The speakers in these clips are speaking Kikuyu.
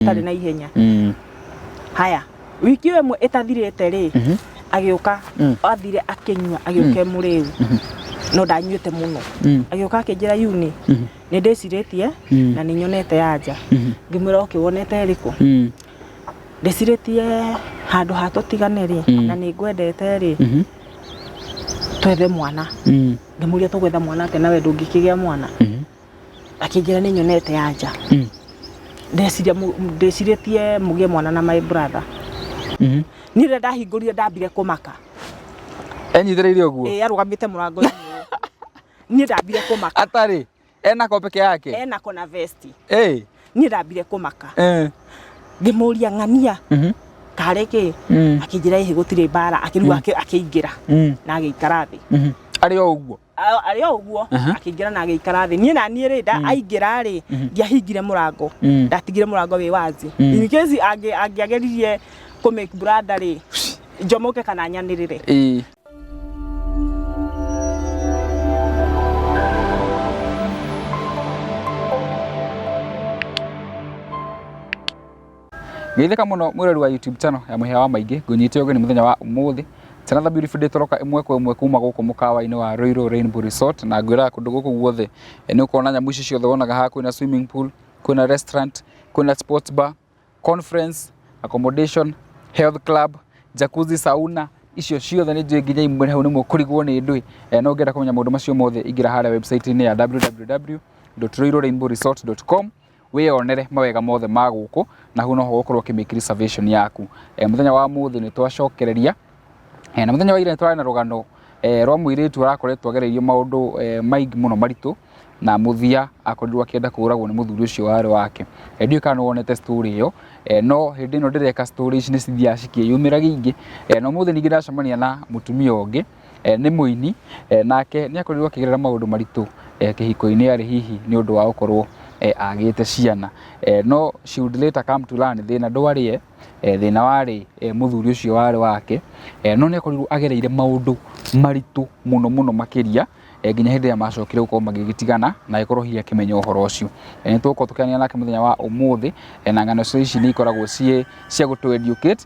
itarĩ na ihenya Mm. haya wiki ĩyo ĩmwe ĩtathirĩte rĩ Mhm. agĩũka Mm. athire akĩnyua agĩũka mũrĩu no ndanyuĩte mũno Mm. agĩũka akĩnjĩra yuni Mhm. nĩ ndĩcirĩtie Mm. na nĩ nyonete yanja Mhm. ngĩmwĩra oke wonete ĩrĩkũ Mm. ndĩcirĩtie handũ ha tũtigane rĩ Mm. na nĩ ngwendete rĩ Mhm. twethe mwana Mm. ngĩmũria tũgwetha mwana atĩa nawe ndũngĩkĩgĩa mwana Mhm. akĩnjĩra nĩ nyonete anja Mm. ndeciria mũ- ndĩcirĩtie mũgĩe mwana na my brother Mhm. niĩ rĩrĩa ndahingũrire ndambire kũmaka Enyitĩrĩire ũguo. ĩĩ arũgamĩte mũrango-inĩ ũyũ. niĩ ndambire kũmaka Atarĩ. Ena ko peke yake. ena kona vesti Eh. niĩ ndambire kũmaka Eh. ngĩmũria ng'ania Mhm. karĩ kĩ Mm. akĩnjĩra ĩhĩ gũtirĩ mbara akĩruga akĩ- akĩingĩra Mm. na agĩikara thĩ Mhm. Arĩ o ũguo. A- arĩ o ũguo Aha. akĩingĩra na agĩikara thĩ niĩ na niĩ rĩ nda- aingĩra rĩ ndiahingire mũrango Mm. ndatigire mũrango wĩ wazi Mm. in case angĩ- angĩageririe kũ make branda rĩ njomoke kana nyanĩrĩre Ĩĩ. Geithĩka mũno mwĩrori wa YouTube channel ya Mũhĩa wa Maingĩ, ngũnyite ũgeni mũthenya wa ũmũthĩ. It's another beautiful day tũroka ĩmwe kwa ĩmwe kuma gũkũ mũkawa-inĩ wa Rũirũ Rainbow Resort na ngwĩraga kũndũ gũkũ guothe eh, nĩ ũkona nyamũ ici ciothe wonaga haha kwĩna swimming pool, kwĩna restaurant, kwĩna sports bar, conference, accommodation, health club, jacuzzi, sauna icio ciothe nĩ njũĩ nginya imwe hau nĩmo kũrigwo nĩ ndũĩ eh, no ngenda kũmenya maũndũ macio mothe ingĩra harĩa website-inĩ ya www.roirũrainbowresort.com wĩyonere mawega mothe ma gũkũ na hau noho ũgũkorwo ũkĩmake reservation yaku e, mũthenya wa mũthĩ nĩ twacokereria e, na mũthenya wa ira nĩ twarĩ na rũgano e, rwa mũirĩtu arakoretwo agereirio maũndũ e, maingĩ mũno maritũ na muthia akorirwo akienda kũragwo nĩ muthuri ucio warĩ wake e, ndiũĩ kana wonete story iyo e, no hĩndĩ ĩno ndĩreka story ici nĩ cithiaga cikĩyumĩragia ingĩ e, na ũmũthĩ ningĩ ndacemania na mutumia ũngĩ eh, nĩ mũini eh, nake nĩ akorirwo akĩgerera maũndũ maritũ eh, kĩhiko-inĩ arĩ hihi nĩ ũndũ wa gũkorwo eh, agĩte ciana eh, no she would later come to learn thĩna ndwarĩ ye eh, thĩna warĩ eh, mũthuri ũcio warĩ wake eh, no nĩ akorirwo agereire maũndũ maritũ mũno mũno makĩria eh, nginya hĩndĩ ĩrĩa macokire gũkorwo magĩgĩtigana na agĩkorwo hihi akĩmenya ũhoro ũcio Eh, nĩ tũgũkorwo tũkĩanĩra nake mũthenya wa ũmũthĩ eh, na ng'ano cio ici nĩ ikoragwo ciĩ cia gũtũ educate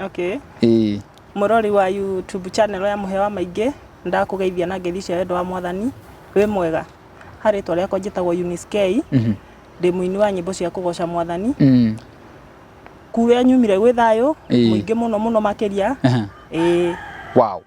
Okay. Ĩĩ. Mũrori wa YouTube channel ya Mũhewa Maingĩ, ndakũgeithia na ngeithi cia wendo wa Mwathani. Wĩ mwega? Ha rĩtwa rĩakwa njĩtagwo Eunice Kei. Ndĩ mũini wa nyĩmbo cia kũgoca Mwathani. Kũrĩa nyumire gwĩ thayũ mũingĩ mũno mũno makĩria. Ĩĩ. Wow.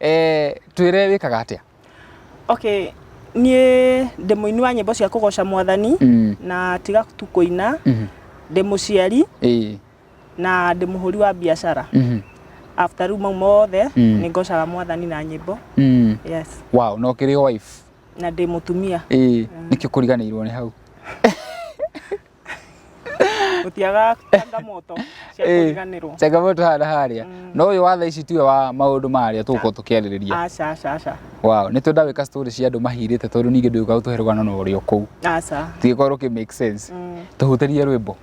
Eh, twĩre wĩkaga atĩa? Okay, niĩ ndĩ mũini wa nyĩmbo cia kũgoca mwathani mm. na tiga tu kũina mm -hmm. ndĩ mũciari e. na ndĩ mũhũri wa biacara mm -hmm. after rĩu mau mothe mm. nĩ ngocaga mwathani na nyĩmbo mm. yes. wow, no kĩrĩ wife na ndĩ mũtumia e. mm. nĩkĩo kũriganĩirwo nĩ hau gutiaga changamoto cia Eh. kũriganĩrwo changamoto haha na harĩa Mm. no ũyũ wa thaa ici tiwe wa maũndũ marĩa tũgũkorwo tũkĩarĩrĩria aca aca aca wow nĩ twenda gwĩka story cia andũ mahirĩte tondũ ningĩ ndũĩ gũkorwo tũhe rũgano na ũrĩa kũu aca tigĩkorwo rũkĩ make sense Mm. tũhutĩrie rwĩmbo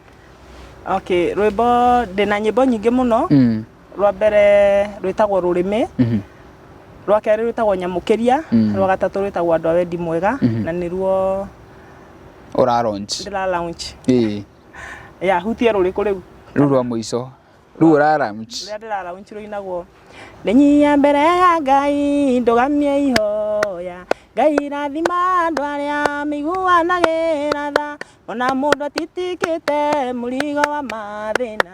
okay rwĩmbo ndĩna nyĩmbo nyingĩ mũno Mm. rwa mbere rwĩtagwo rũrĩmĩ Mhm. rwa kerĩ rwĩtagwo nyamũkĩria Mm. rwa gatatũ rwĩtagwo andũ a wendi mwega Mhm. na nĩruo Ũra launch. ndĩra launch Ĩĩ. ya hutie rũrĩkũ rĩu Rũu rwa mũico. Rũu ũra launch. rũrĩa ndĩra launch rũinagwo ndĩnyia mbere ya ngai ndũgamie ihoya ngai rathima andũ arĩa mĩiguanagĩra tha ona mũndũ atitikĩte mũrigo wa mathĩna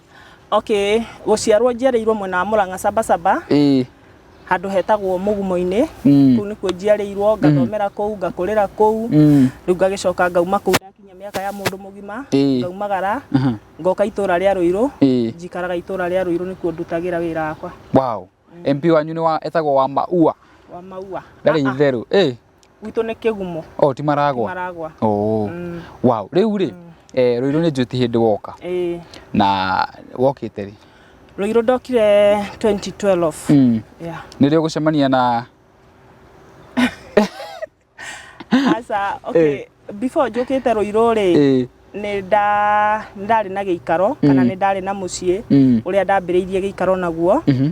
Okay, gũciarwo njiarĩirwo mwena wa Mũrang'a Sabasaba Ĩĩ. handũ hetagwo Mũgumo-inĩ. Mm. Kũu nĩkuo njiarĩirwo, ngathomera kũu, ngakũrĩra kũu. Mm. Rĩu ngagĩcoka ngauma kũu ndakinyia mĩaka ya mũndũ mũgima, Ĩĩ. ngaumagara, Aha. ngoka itũũra rĩa Rũirũ. Ĩĩ. Njikaraga itũũra rĩa Rũirũ nĩkuo ndutagĩra wĩra wakwa. Wow. MP wanyu nĩ wa etagwo wa maua. Wa maua. Ndarĩ ah, ah. itherũ. Eh. Gwitũ nĩ kĩgumo. Oh, ti maragwa. Maragwa. Oh. Mm. Wow. Rĩu rĩ, mm. eh, Rũirũ nĩ njũti hĩndĩ woka. Eh. Na wokĩte rĩ? Rũirũ ndokire 2012. Mm. Yeah. Nĩ rĩo gũcemania na aca okay before njũkĩte rũirũ rĩ Ĩĩ. nĩ nda- nĩ ndarĩ na gĩikaro kana nĩ ndarĩ na mũciĩ Mm. ũrĩa ndambĩrĩirie gĩikaro naguo Mhm.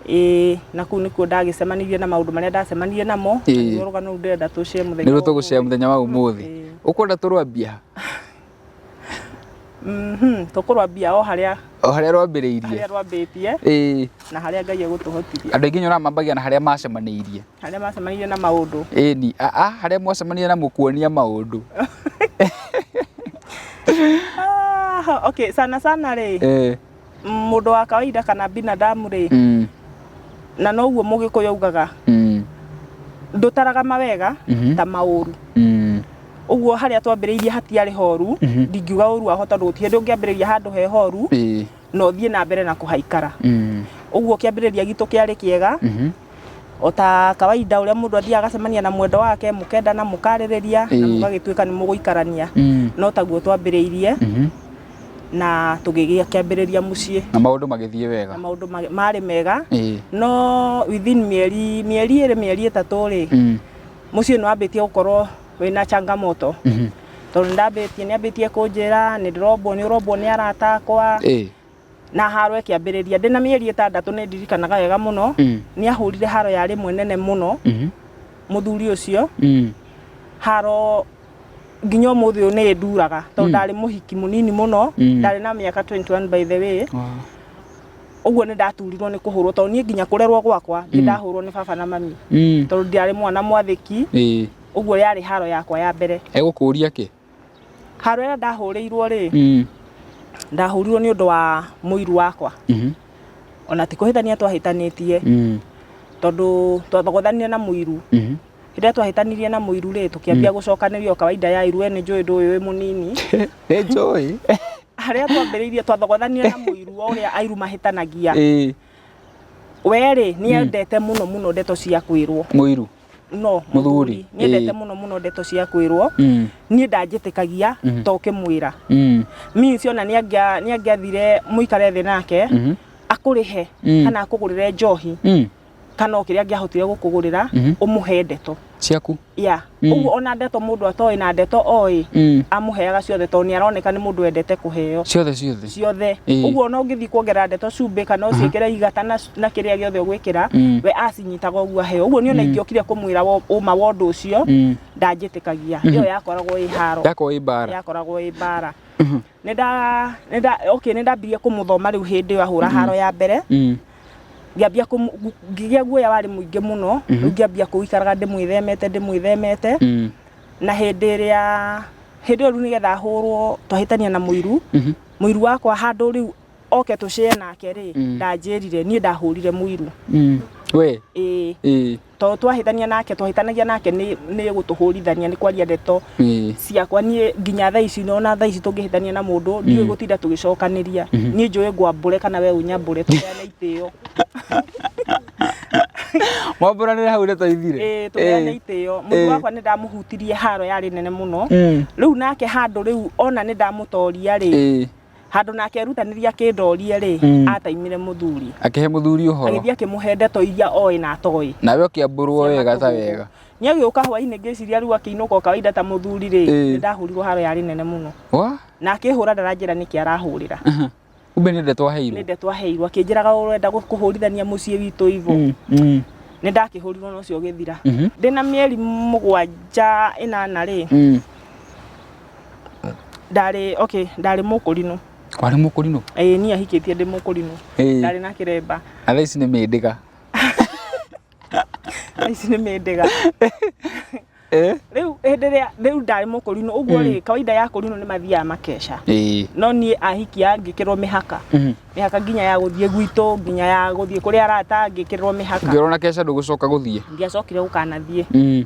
ĩĩ na kũu nĩkuo ndagĩcemanirie na maũndũ marĩa ndacemanirie namo na Ĩĩ. nĩruo rũgano rũu ndĩrenda tũcĩe mũthenya nĩruo wa tũgũcea ũmũthĩ. mũthenya wa ũmũthĩ Ĩĩ. ũkwenda tũrwambia Mhm, tũkũrwambia o harĩa o harĩa rwambĩrĩirie harĩa rwambĩtie ĩĩ na harĩa Ngai egũtũhotithia andũ aingĩ nyonaga mambagia na harĩa macemanĩirie harĩa macemanirie na maũndũ ĩni aa harĩa mwacemanire na mũkuonia maũndũ Ah, okay sana sana rĩ Eh, mũndũ wa kawaida kana binadamu rĩ mm. na noguo mũgĩkũyũ ugaga mm. ndũtaraga mawega mm -hmm. ta maũru mm. uguo harĩa twambĩrĩirie hatiarĩ horu mm -hmm. ndingiuga ũru waho tondũ gũtirĩ ndũ ngĩambĩrĩria handũ he horu e. na ũthiĩ na mbere na kũhaikara mm. uguo kĩambĩrĩria gitũ kĩarĩ kĩega mm -hmm. o ta kawaida ũrĩa mũndũ athiaga agacemania na mwendo wake mũkendana mũkarĩrĩria na Ĩĩ. mũgagĩtuĩka nĩ mũgũikarania Mm. no taguo twambĩrĩirie Mhm. na tũgĩgĩa kĩambĩrĩria mũciĩ na maũndũ magĩthiĩ na wega maũndũ ma- marĩ mega Ĩĩ. no within mĩeri mĩeri ĩrĩ mĩeri ĩtatũ rĩ Mm. mũciĩ nĩ wambĩtie gũkorwo wĩna changamoto Mhm. tondũ ndambĩtie nĩ ambĩtie kũnjĩra nĩ ndĩrombwo nĩ ũrombwo nĩ arata akwa Ĩĩ. na haro ĩkĩambĩrĩria ndĩ na mĩeri ĩtandatũ nĩ ndirikanaga wega mũno Mm. nĩ ahũrire haro ya rĩmwe nene mũno Mhm. mũthuri ũcio Mm. haro nginya ũmũthĩ ũyũ nĩ nduraga tondũ Mm. ndarĩ mũhiki mũnini mũno Mm. ndarĩ na mĩaka 21 by the way Wow. ũguo nĩ ndaturirwo nĩ kũhũrwo tondũ niĩ nginya kũrerwo gwakwa nĩ Mm. ndahũrwo nĩ baba na mami Mm. tondũ ndarĩ mwana mwathĩki Ĩĩ. ũguo yarĩ haro yakwa ya mbere Egũkũria kĩ? Haro ĩrĩa ndahũrĩirwo rĩ, Mm. ndahũrirwo nĩ ũndũ wa mũiru wakwa Mhm. ona ti kũhĩtania twahĩtanĩtie Mm. tondũ twathogothanire na mũiru Mhm. rĩrĩa twahĩtanirie na mũiru rĩ tũkĩambia gũcokanĩria o kawaida ya iru we nĩ njũĩ ndũĩ wĩ mũnini Nĩ njũĩ. harĩa twambĩrĩirie twathogothanire na mũiru o ũrĩa airu mahĩtanagia Ĩĩ. we rĩ nĩ endete mũno mũno ndeto cia kwĩrwo Mũiru. no Mũthuri, nyendete ĩĩ. mũno mũno ndeto cia kwĩrwo Mm. niĩ ndanjĩtĩkagia Mhm. to ũkĩmwĩra Mm. means ona nĩ angĩa- nĩ angĩathire mũikare thĩ nake Mhm. akũrĩhe Mm. kana akũgũrĩre njohi Mm. kana o kĩrĩa angĩahotire gũkũgũrĩra Mhm. ũmũhe ndeto ciaku ya Mm. ũguo ona ndeto mũndũ atoĩ na ndeto oĩ Mm. amũheaga ciothe tondũ nĩ aroneka nĩ mũndũ wendete kũheo ciothe ciothe ciothe Ĩĩ. ũguo ona ũngĩthiĩ kuongerera ndeto cumbĩ kana ũciĩkĩre igata na na kĩrĩa gĩothe ũgwĩkĩra Mm. we acinyitaga ũguo aheo ũguo niona ingĩokire kũmwĩra wo- ũma wa ũndũ ũcio Mm. ndanjĩtĩkagia ĩyo yakoragwo ĩ haro Yakorwo ĩ mbaara. yakoragwo ĩ mbara nĩ nda- nĩ nda- okay, nĩ ndambirie kũmũthoma rĩu hĩndĩ ĩyo ahũra haro ya mbere Mm. ngĩambia kũmũ- ngu- ngĩgĩa guoya warĩ mũingĩ mũno rĩu ngĩambia kũikaraga ndĩmwĩthemete ndĩmwĩthemete Mm. na hĩndĩ ĩrĩa hĩndĩ ĩyo rĩu nĩgetha ahũrwo twahĩtania na mũiru Mhm. mũiru wakwa handũ rĩu oke tũcĩe nake rĩ Mm. ndanjĩrire niĩ ndahũrire mũiru Mm. We. ĩĩ Ĩĩ. tondũ twahĩtania nake twahĩtanagia nake nĩ nĩ gũtũhũrithania nĩ kwaria ndeto Ĩĩ. ciakwa niĩ nginya thaa ici nona thaa ici tũngĩhĩtania na mũndũ ndiũĩ gũtinda tũgĩcokanĩria niĩ njũĩ ngwambũre kana we ũnyambũre tũheane itĩo Mwambũranĩre hau ndeto ithire. Ĩĩ, tũheane itĩo Ĩĩ. mũndũ wakwa nĩ ndamũhutirie haro yarĩ nene mũno Mm. rĩu nake handũ rĩu ona nĩ ndamũtoria rĩ Ĩĩ. handå na akerutanĩria kĩndorie-rĩ Mm. ataimire mũthuri akĩhe mũthuri ũhoro agĩthiĩ akĩmũhe ndeto iria oĩ na atoĩ nawe ũkĩambũrwo wega ta wega nĩ agĩũka hwainĩ ngĩciria rĩu akĩinũka o kawaida ta mũthuri-rĩ Ĩĩ. nĩ ndahũrirwo haro yarĩ nene mũno wa na akĩhũra ndaranjĩra nĩkĩ arahũrĩra kumbe nĩ ndeto nĩ aheirwo ndeto aheirwo akĩnjĩraga ũrenda gũ- kũhũrithania mũciĩ witũ ivo Mm, mm, nĩ ndakĩhũrirwo na ũcio ũgĩthira mhm, ndĩna mĩeri mũgwanja ĩnana-rĩ mm. ndarĩ okay ndarĩ mũkũrinũ warĩ mũkũrinũ ĩĩ niĩ ahikĩtie ndĩ mũkũrinũ Ĩĩ. ndarĩ na kĩremba na thaa ici nĩ mĩndĩga Thaa ici nĩ mĩndĩga Eh? rĩu hĩndĩ ĩrĩa rĩu ndarĩ mũkũrinũ ũguo rĩ kawaida ya kũrinũ nĩ mathiaga makeca Ĩĩ. no niĩ ahikia ngĩkĩrwo mĩhaka Mhm. mĩhaka nginya ya gũthiĩ gwitũ nginya ya gũthiĩ kũrĩa arata ngĩkĩrĩrwo mĩhaka ngĩrwo na keca ndũgũcoka gũthiĩ ndiacokire gũkanathiĩ Mm.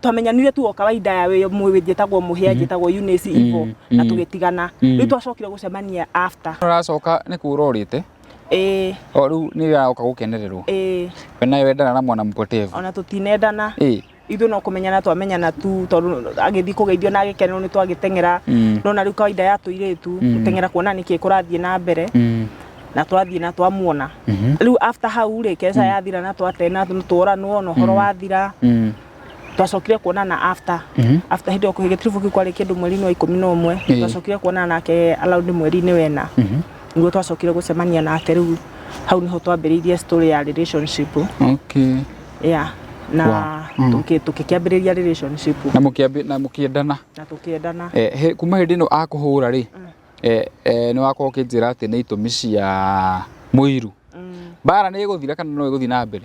twamenyanire tu o kawaida ya wĩ mũĩ njĩtagwo mũhĩa mm. njĩtagwo Eunice mm, Ivo na mm. tũgĩtigana rĩu twacokire gũcemania after ũracoka nĩ kũra ũrĩte ĩĩ o rĩu nĩ wĩra oka gũkenererwo ĩĩ we nawe wendana na mwana mpotevu ona tũtinendana ĩĩ ithu no kumenyana twamenyana tu tondu agithi kugeithio na agikenerwo ni twagitengera no na riu kawaida ya tuiritu gutengera kuona niki kurathie na mbere na twathiĩ na twamuona Mhm. rĩu after hau rĩ keca yathira na twatena tworanwo na ũhoro wathira Mm. twacokire kuonana after Mhm. after hĩndĩ ĩyo gĩtiribu kĩu kwarĩ kĩndũ mweri-inĩ wa ikũmi na ũmwe Ĩĩ. twacokire kuonana nake around mweri-inĩ wena Mhm. niguo twacokire gũcemania nake rĩu hau nĩho twambĩrĩirie story ya relationship Okay. yeah na Wow. Mm. tũkĩ- tũkĩkĩambĩrĩria relationship Na mũkĩambi- na mũkĩendana. na tũkĩendana Eh, he- kuma hĩndĩ ĩno akũhũra rĩ eh, eh, nä wakorwo å kä njä ra atä nä itå mi cia må iru Mm. mbara nä ä gå thira kana no ä gå thiä na mbere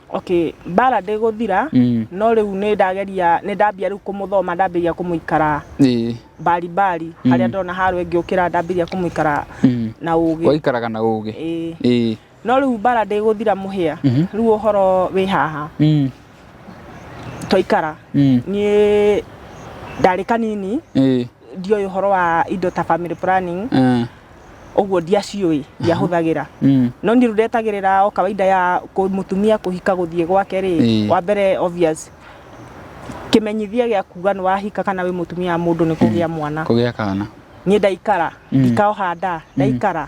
okay mbara ndĩgũthira Mm. no rĩu nĩ ndageria nĩ ndambia rĩu kũmũthoma ndambĩria kũmũikara Ĩĩ. mbari mbari harĩa ndona harwe ngĩũkĩra ndambĩria kũmũikara Mm. na ũgĩ waikaraga na å gä Ĩĩ. no rĩu mbara ndĩgũthira mũhĩa Mhm. rĩu ũhoro wĩ haha Mm. twaikara Mm. niĩ ndarĩ kanini Eh. ndioĩ ũhoro wa indo ta family planning Eh. ũguo ndiaciũĩ ndiahũthagĩra Mm. no niĩ rĩu ndetagĩrĩra o kawaida ya kũ- mũtumia kũhika gũthiĩ gwake rĩ Ĩĩ. wa mbere obvious kĩmenyithia gĩa kuga nĩ wahika kana wĩ mũtumia wa mũndũ nĩ kũgĩa mwana Kũgĩa kana. niĩ ndaikara Mm. ndikaoha nda ndaikara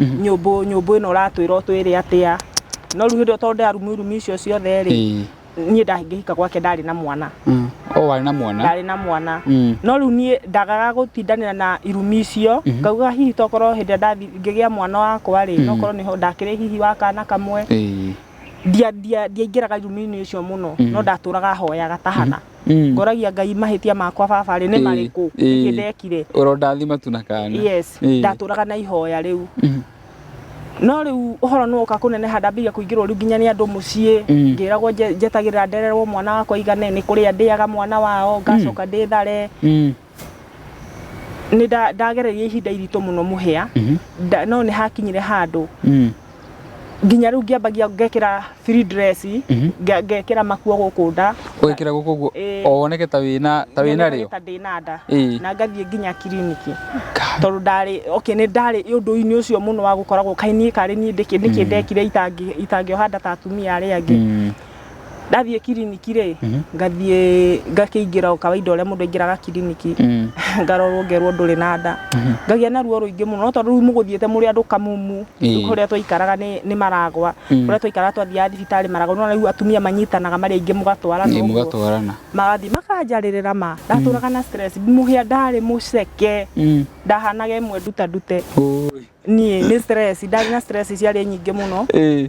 nyũmbũ nyũmbũ ĩno ũratwĩra ũtwĩre atĩa no rĩu hĩndĩ ĩyo tondũ ndarumurumi icio ciothe rĩ Ĩĩ. niĩ ndangĩhika gwake ndarĩ na mwana Mm. o warĩ na mwana ndarĩ na mwana Mm. no rĩu niĩ ndagaga gũtindanĩra na irumi icio ngauga hihi tokorwo hĩndĩ ĩrĩa ndathi- ngĩgĩa mwana wakwa rĩ nokorwo nĩho ndakĩrĩ hihi wa kana kamwe Ĩĩ. ndia- ndia- ndiaingĩraga irumi-inĩ icio mũno no ndatũraga hoyaga tahana Mm. ngoragia ngai mahĩtia makwa baba rĩ nĩ Ĩĩ, marĩkũ ĩĩ. ningĩ ndekire Ũrondathima tu na kana. yes Ĩĩ. ndatũraga na ihoya rĩu Mhm. no rĩu ũhoro nĩ woka kũneneha ndambĩrĩria kũingĩrwo rĩu nginya nĩ andũ mũciĩ Mm. ngĩragwo nje- njetagĩrĩra ndererwo mwana wakwa igane nĩ kũrĩa ndĩaga mwana wao ngacoka ndĩthare Mm. nĩ nda- ndagereria ihinda iritũ mũno mũhĩa Nda- no nĩ hakinyire handũ Mm. nginya rĩu ngĩambagia ngekĩra free dress nge- ngekĩra makuo gũkũ nda Ũgekĩra gũkũ ũguo Ĩĩ. o woneke ta wĩna ta wĩna nyonekaga rĩo. ta ndĩ na nda Ĩĩ. na ngathiĩ nginya kiriniki Ka- tondũ ndarĩ okay nĩ ndarĩ ũndũ-inĩ ũcio mũno wa gũkoragwo kaĩ niĩ karĩ niĩ ndĩkĩ nĩkĩ ndekire itangĩ itangĩoha nda ta atumia arĩa angĩ Mm. ndathiĩ kiriniki rĩ ngathiĩ ngakĩingĩra o kawaida ũrĩa mũndũ aingĩraga kiriniki Mm. ngarorwo ngerwo ndũrĩ na nda ngagĩa na ruo rũingĩ mũno no tondũ rĩu mũgũthiĩte mũrĩ andũ kamumu Ĩĩ. kũrĩa twaikaraga nĩ nĩ maragwa Mm. kũrĩa twaikaraga twathiaga thibitarĩ maragwa nona rĩu atumia manyitanaga marĩ aingĩ mũgatwarana Ĩĩ, ũguo mũgatwarana magathiĩ makanjarĩrĩra ma ndatũraga na stress mũhĩa ndarĩ mũceke Mm. ndahanaga ĩmwe nduta ndute Ũĩ. niĩ nĩ stress ndarĩ na stress ciarĩ nyingĩ mũno Ĩĩ.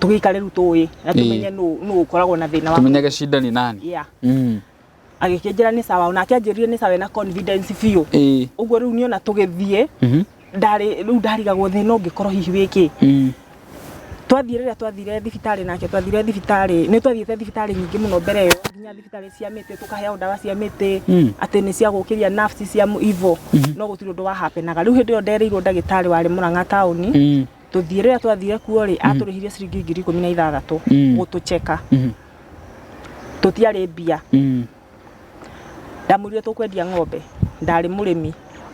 tũgĩikare rĩu tũĩ na Ĩĩ. tũmenye nũ nũ ũkoragwo na thĩna wa tumenyage shida ni nani yeah. Mm. agĩkĩnjĩra nĩ sawa ona akĩanjĩrire nĩ sawa na confidence biũ Ĩĩ. ũguo rĩu niĩ ona tũgĩthiĩ Mhm. ndarĩ rĩu ndarigagwo thĩna ũngĩkorwo hihi wĩkĩ Mm. twathiĩ rĩrĩa twathire thibitarĩ nake twathire thibitarĩ nĩ twathiĩte thibitarĩ nyingĩ mũno mbere ĩyo nginya thibitarĩ cia mĩtĩ tũkaheo ndawa cia mĩtĩ Mm. atĩ nĩ cia gũkĩria nafsi cia ivo no gũtirĩ ũndũ wahapenaga rĩu hĩndĩ ĩyo ndereirwo ndagĩtarĩ warĩ mũrang'a taũni Mm. tũthiĩ rĩrĩa twathire kuo rĩ atũrĩhirie ciringi ngiri ikũmi na ithathatũ Mm. gũtũcheka Mhm. tũtiarĩ mbia Mm. ndamwĩrire tũkwendia ng'ombe ndarĩ mũrĩmi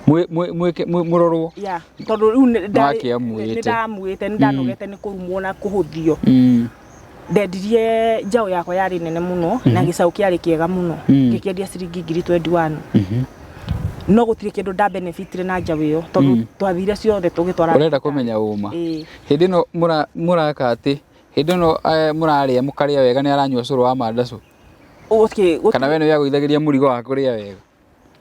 Mwĩ- mwĩ- mwĩke- mwĩ- mũrorwo ya tondũ rĩu nĩ- ndarĩ- Nake amwĩte. nĩ ndamwĩte nĩ ndanogete nĩ kũrumwo na kũhũthio Mm. ndendirie njaũ yakwa yarĩ nene mũno na gĩcaũ kĩarĩ kĩega mũno ngĩkĩendia ciringi ngiri 21 no gũtirĩ kĩndũ nda benefitire na njaũ ĩyo tondũ twathire ciothe tũgĩtwara Ũrenda kũmenya ũma. Ĩĩ. Hĩndĩ ĩno mũra- mũraka atĩ, hĩndĩ ĩno eh, mũrarĩa mũkarĩa wega nĩ aranyua cũrũ wa mandacũ. Ũgũkĩ- gũtirĩ- Kana we nĩwe agũithagĩria mũrigo wa kũrĩa wega.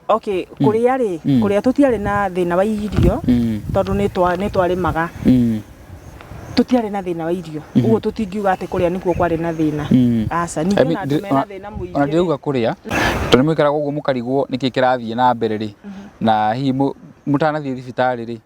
okay kũrĩa rĩ mm. kũrĩa tũtiarĩ na thĩna wa irio mm. tondũ nĩ twarĩmaga mm. tũtiarĩ na thĩna wa irio mm-hmm. ũguo tũtingiuga atĩ kũrĩa nĩkuo kwarĩ na thĩna mm. aca ningĩ ona andũ mena thĩna mũingĩ ona ndĩrauga kũrĩa tondũ nĩ mũikaraga ũguo mũkarigwo nĩkĩ kĩrathiĩ na mbere rĩ mm-hmm. na hihi mũtanathiĩ thibitarĩ rĩ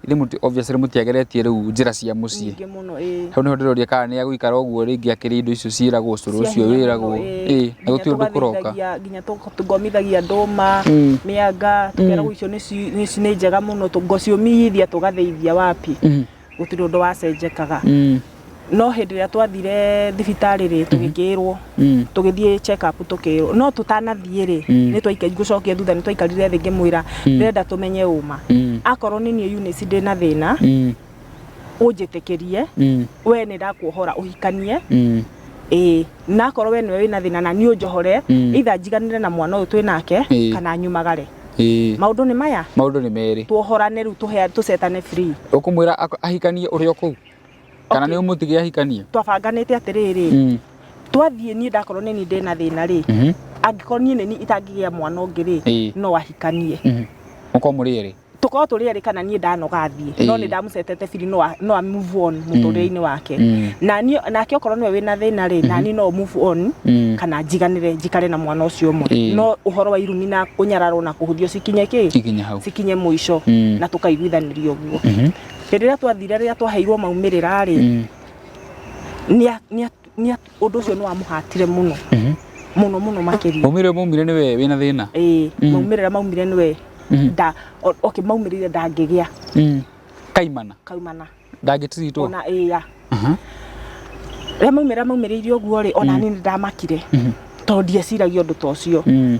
Rĩmũti- obviously rĩmũtiageretie rĩu njĩra cia mũciĩ. nyingĩ mũno ĩĩ Hau nĩho ndĩroria kana nĩ agũikara ũguo rĩngĩ akĩrĩ indo icio ciĩragwo cũrũ Cia ũcio hinya wĩragwo. mũno, ĩĩ. Ĩĩ, na Nginya gũtirĩ ũndũ kũroka. tũgathĩithagia- nginya tũ- tũgomithagia ndũma Mm. mĩanga tũkeragwo icio nĩ ci- nĩ ci- nĩ njega mũno tũ- ngũciũmithia tũgathĩithia wapi Mm. gũtirĩ ũndũ wacenjekaga Mm. no hĩndĩ ĩrĩa twathire thibitarĩ rĩ tũgĩkĩrwo Mm. tũgĩthiĩ check up tũkĩrwo no tũtanathiĩ rĩ Mm. nĩ twaika ngũcokia thutha nĩ twaikarire thĩ ngĩmwĩra ndĩrenda tũmenye ũma Mm. akorwo nĩ niĩ Eunice ndĩ na thĩna Mm. ũnjĩtĩkĩrie Mm. we nĩ ndakuohora ũhikanie Mm. ĩĩ na akorwo we nĩwe wĩna thĩna na niĩ ũnjohore Mm. either njiganĩre na mwana ũyũ twĩ nake Ĩĩ. kana nyumagare Ĩĩ. maũndũ nĩ maya maũndũ nĩ merĩ tuohorane rĩu tũhe- tũcetane free ũkũmwĩra ak- ahikanie ũrĩa kũu kana Okay. nĩ ũmũtige ahikanie twabanganĩte atĩrĩrĩ Mm, twathiĩ niĩ ndakorwo nĩ niĩ ndĩna thĩna rĩ mhm, angĩkorwo niĩ nĩ niĩ itangĩgĩa mwana ũngĩ rĩ Ĩĩ. no ahikanie mhm. mũkorwo mũrĩ erĩ tũkorwo tũrĩ erĩ kana niĩ ndanoga thiĩ no Ĩĩ. nĩ ndamũcetete biri no a- no a move on mũtũrĩre-inĩ wake Mm, na niĩ- nake okorwo nĩwe wĩna thĩna rĩ na niĩ no move on mm. kana njiganĩre njikare na mwana ũcio ũmwe Ĩĩ. no ũhoro wa irumi na kũnyararwo na kũhũthio cikinye kĩ ikinya hau cikinye mũico Mm. na tũkaiguithanĩria ũguo Mhm. Hĩndĩ ĩrĩa twathire rĩrĩa twaheirwo maumĩrĩra rĩ, Mm. nĩa- nĩa- nĩa- ũndũ ũcio nĩ wamũhatire mũno Mhm. mũno mũno makĩria Maumire maumire nĩ we wĩna thĩna. Ĩĩ, Mm. maumĩrĩra maumire nĩwe Mhm. nda o- okay maumĩrĩire ndangĩgĩa Mm. Kaimana. kaumana Ndangĩtiritwo. ona ĩya Aha. rĩrĩa maumĩrĩra maumĩrĩire ũguo rĩ ona niĩ nĩ ndamakire Mhm. tondũ ndieciragia ũndũ ta ũcio Mm.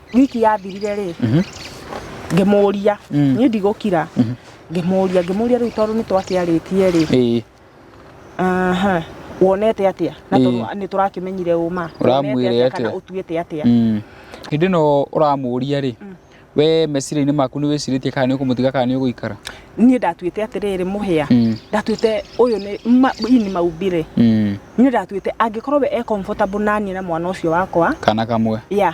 wiki yathirire rĩ ngĩmũria Mm. niĩ ndigũkira ngĩmũria ngĩmũria rĩu tondũ nĩ twakĩarĩtie rĩ ĩĩ aha wonete atĩa na Ĩĩ. tondũ nĩ tũrakĩmenyire ũma Ũramwĩre Wonete atĩa? kana ũtuĩte atĩa Mm. hĩndĩ ĩno ũramũria rĩ we meciria-inĩ maku nĩ wĩcirĩtie kana nĩ ũkũmũtiga kana nĩ ũgũikara niĩ ndatuĩte atĩrĩrĩ mũhĩa Mm. ndatuĩte ũyũ nĩ ma- ii nĩ maumbire Mm. niĩ ndatuĩte angĩkorwo we e comfortable naniĩ na mwana ũcio wakwa kana kamwe ya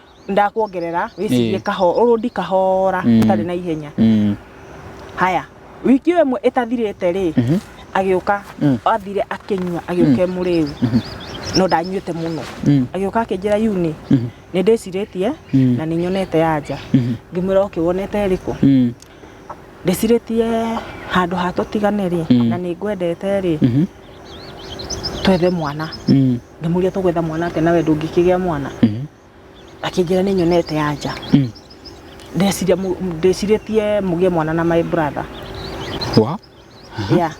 ndakuongerera wĩcirie Ĩĩ. kaho ũrũndi kahora Mm. ũtarĩ na ihenya Mm. haya wiki ĩyo ĩmwe ĩtathirĩte rĩ Mhm. agĩũka Mm. athire akĩnyua agĩũka mũrĩu no ndanyuĩte mũno Mm. agĩũka akĩnjĩra yuni Mhm. nĩ ndĩcirĩtie Mm. na nĩ nyonete ya nja Mhm. ngĩmwĩra oke wonete ĩrĩkũ Mm. ndĩcirĩtie handũ hatũtigane rĩ Mm. na nĩ ngwendete rĩ Mhm. twethe mwana Mm. ngĩmũria tũgwetha mwana atĩa nawe ndũngĩkĩgĩa mwana Mhm. akĩnjĩra nĩ nyonete ya nja Mm. ndeciria mũ- ndĩcirĩtie mũgĩe mwana na my brother Wa? yeah.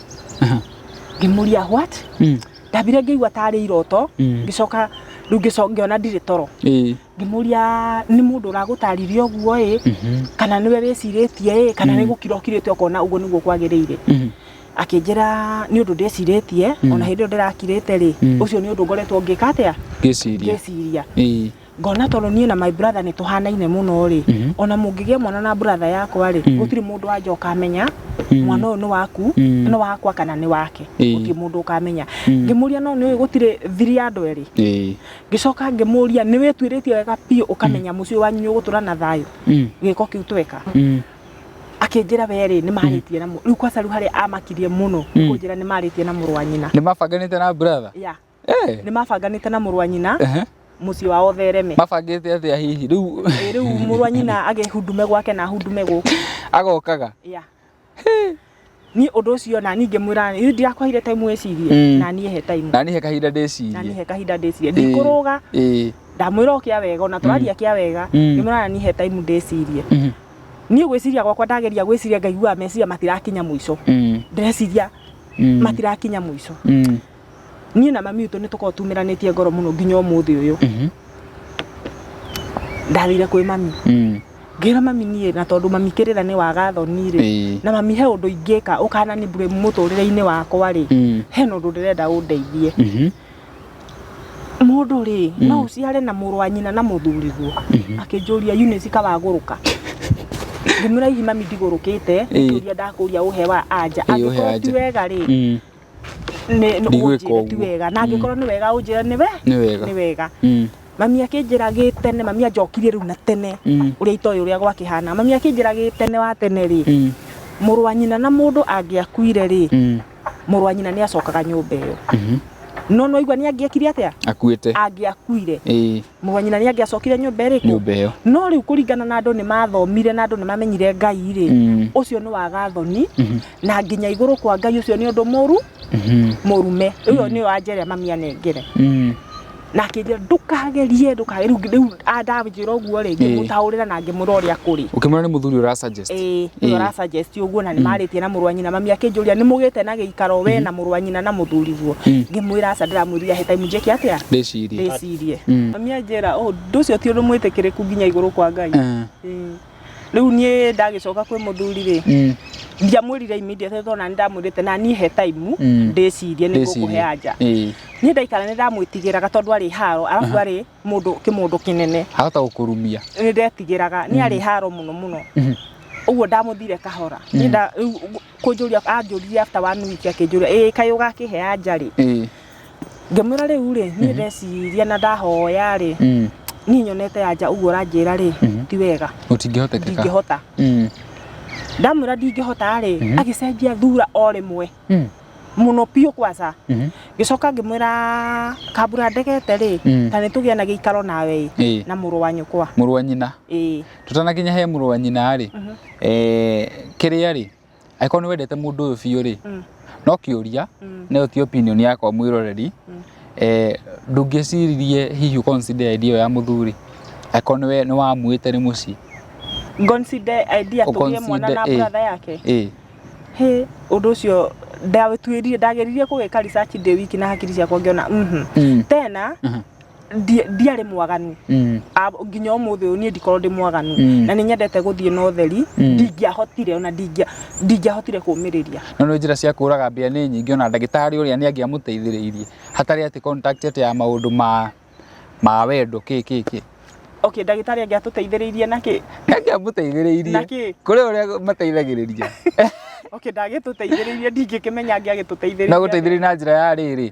ngĩmũria what Mm. ndambire ngĩigua tarĩ iroto Mm. ngĩcoka rĩu ngĩco- ngĩona ndirĩ toro Ĩĩ. ngĩmũria nĩ mũndũ ũragũtarire ũguo ĩ Mhm. kana nĩwe wĩcirĩtie ĩ kana nĩ gũkira ũkirĩte ũkona ũguo nĩguo kwagĩrĩire Mhm. akĩnjĩra nĩ ũndũ ndĩcirĩtie ona hĩndĩ ĩyo ndĩrakirĩte rĩ ũcio nĩ ũndũ ngoretwo ngĩka atĩa ngĩciria ngĩciria Ĩĩ. ngona tondũ niĩ na my brother nĩ tũhanaine mũno rĩ ona mũngĩgĩa mwana na brother yakwa rĩ gũtirĩ mũndũ wanja ũkamenya mwana ũyũ nĩ waku nĩ wakwa kana nĩ wake Ĩĩ. gũtirĩ mũndũ ũkamenya ngĩmũria no nĩũĩ gũtirĩ thiri ya andũ erĩ Ĩĩ. ngĩcoka ngĩmũria nĩ wĩtuĩrĩtie wega biũ ũkamenya mũciĩ wanyu nĩ ũgũtũra na thayũ Mm. gĩko kĩu tweka Mm. akĩnjĩra we rĩ nĩ marĩtie na mũ- rĩu kwaca rĩu harĩa amakirie mũno nĩ kũnjĩra nĩ marĩtie na mũrũ wa nyina nĩ mabanganĩte na brother ya Eh, nĩ mabanganĩte na mũrũ wa nyina ehe. mũciĩ wao thereme mabangĩte atĩa hihi rĩu Ĩ, rĩu mũrũ wa nyina agĩhundume gwake na hundume gũkũ agokaga ya niĩ ũndũ ũcio na niĩ ngĩmwĩra rĩu ndirakũheire time wĩcirie Mm. na niĩ he time na niĩ he kahinda na niĩ ndĩcirie he kahinda ndĩcirie Ĩĩ. ndikũrũga Ĩĩ. ndamwĩra o kĩa wega ona tũraria kĩa wega Mm. ngĩmwĩra na niĩ he time ndĩcirie Mhm. niĩ gwĩciria gwakwa ndageria gwĩciria ngaiguaga meciria matirakinya mũico Mm. ndĩreciria Mm. matirakinya mũico Mm. niĩ na mami witũ nĩ tũkoragwo tumĩranĩtie ngoro mũno nginya ũmũthĩ ũyũ Mhm. ndathire kwĩ mami Mm. ngĩra mami niĩ na tondũ mami kĩrĩra nĩ waga thoni rĩ Ĩĩ. na mami he ũndũ ingĩka ũkana nĩ mbure mũtũrĩre-inĩ wakwa rĩ Mm. he na ũndũ ndĩrenda ũndeithie Mhm. mũndũ rĩ no ũciare na mũrũ wa nyina na mũthuriguo akĩnjũria Eunice kawagũrũka ngĩmwĩra hihi mami ndigũrũkĩte Ĩĩ. nĩkĩũria ndakũria ũhe wa anja Ĩĩ, ũhe wa angĩkorwo ti anja. wega rĩ Mm. nĩ Ndigwĩka ũnjĩre ti ũguo. wega na angĩkorwo nĩ wega ũnjĩre nĩ we Nĩ wega. nĩ wega Mm. mami akĩnjĩra gĩ tene mami anjokirie rĩu na tene Mm. ũrĩa itoĩ ũrĩa gwakĩhana mami akĩnjĩra gĩ tene wa tene rĩ Mm. mũrũ wa nyina na mũndũ angĩakuire rĩ Mm. mũrũ wa nyina nĩ acokaga nyũmba ĩyo Mhm. no nwaigua nĩ angĩekire atĩa akuĩte angĩakuire ĩĩ Mũrũ wa nyina nĩ angĩacokire nyũmba ĩrĩkũ? Nyũmba ĩyo. No rĩu kũringana na andũ nĩ mathomire na andũ nĩ mamenyire Ngai rĩ, Mm. ũcio nĩ waga thoni na nginya igũrũ kwa Ngai ũcio nĩ ũndũ mũru Mhm. mũrume. Ũyo nĩ wa njere mamia nengere. Mm. Na akĩnjĩra ndũkagerie ndũkagerie rĩu rĩu andanjĩra ũguo rĩ ngĩmũtaũrĩra na ngĩmũra ũrĩa kũrĩ. Ũkĩmwona nĩ mũthuri ũra suggest. Ĩĩ, nĩwe ũra suggest ũguo na nĩ marĩtie na mũrũ wa nyina mami akĩnjũria nĩ mũgĩte na gĩikaro we na mũrũ wa nyina na mũthuriguo. Ngĩmwĩra aca ndĩramwĩrire he time njĩke atĩa? Ndĩcirie. Ndĩcirie. ndĩrecirie mm. mami anjĩra oh, ũndũ ũcio ti ũndũ mwĩtĩkĩrĩku nginya igũrũ kwa ngai mm. mm. rĩu niĩ ndagĩcoka kwĩ mũthuri rĩ mm. ndiamwĩrire immediate tona nĩ ndamwĩrĩte na niĩ he taimu mm. ndĩcirie nĩ ngũkũhe anja eh. niĩ ndaikara nĩ ndamwĩtigĩraga tondũ arĩ haro arabu arĩ mũndũ kĩmũndũ kĩnene ahota gũkũrumia nĩ ndetigĩraga nĩ arĩ mm. haro mũno mũno mm-hmm. ũguo ndamuthire kahora mm. kũnjũria anjũririe after one week akĩnjũria ĩĩ kaĩ ũgakĩhe anja rĩ ĩĩ ngĩmwĩra rĩu rĩ niĩ ndeciria na ndahoya rĩ mm, niĩ nyonete anja ũguo ũranjĩra rĩ Mhm. ti wega gũtingĩhotekeka ndingĩhota Mm, ndamwĩra ndingĩhota rĩ Mhm. agĩcenjia thura o rĩmwe mm, mũno biũ kwaca mhm, ngĩcoka ngĩmwĩra kambura ndegete rĩ Mm. ta nĩ tũgĩa na gĩikaro nawe ĩ ĩĩ na mũrũ wa nyũkwa mũrũ wa nyina ĩĩ tũtanakinya he mũrũ wa nyina rĩ mhm. eh, kĩrĩa rĩ angĩkorwo nĩ wendete mũndũ ũyũ biũ rĩ mm. no kĩũria mm. nayo ti opinion yakwa mwĩroreri mm. eh, ndũngĩciririe hihi consider idea ĩyo ya mũthuri angĩkorwo nĩwe nĩ wamwĩte nĩ mũciĩ consider idea tũgĩe mwana na eh, brother yake eh. he ũndũ ũcio ndawĩtuĩrire ndageririe kũgĩka research ndĩ wiki na hakiri ciakwa ngĩona mhm. tena mhm. ndi- ndiarĩ mwaganu Mm. A- nginya ũmũthĩ ũyũ niĩ ndikorwo ndĩ mwaganu Mm. na nĩ nyendete gũthiĩ na ũtheri ndingĩahotire ona ndingĩa- ndingĩahotire kũmĩrĩria no nĩ njĩra cia kũraga mbĩa nĩ nyingĩ ona ndagĩtarĩ ũrĩa nĩ angĩamũteithĩrĩirie hatarĩ atĩ contact atĩ ya maũndũ ma ma wendo kĩ kĩ kĩ okay ndagĩtarĩ angĩatũteithĩrĩirie nakĩ nĩ angĩamũteithĩrĩirie Na kĩ? kũrĩ ũrĩa mateithagĩrĩria okay ndagĩtũteithĩrĩirie ndingĩkĩmenya angĩagĩtũteithĩrĩirie na gũteithĩrĩria na njĩra ya rĩrĩ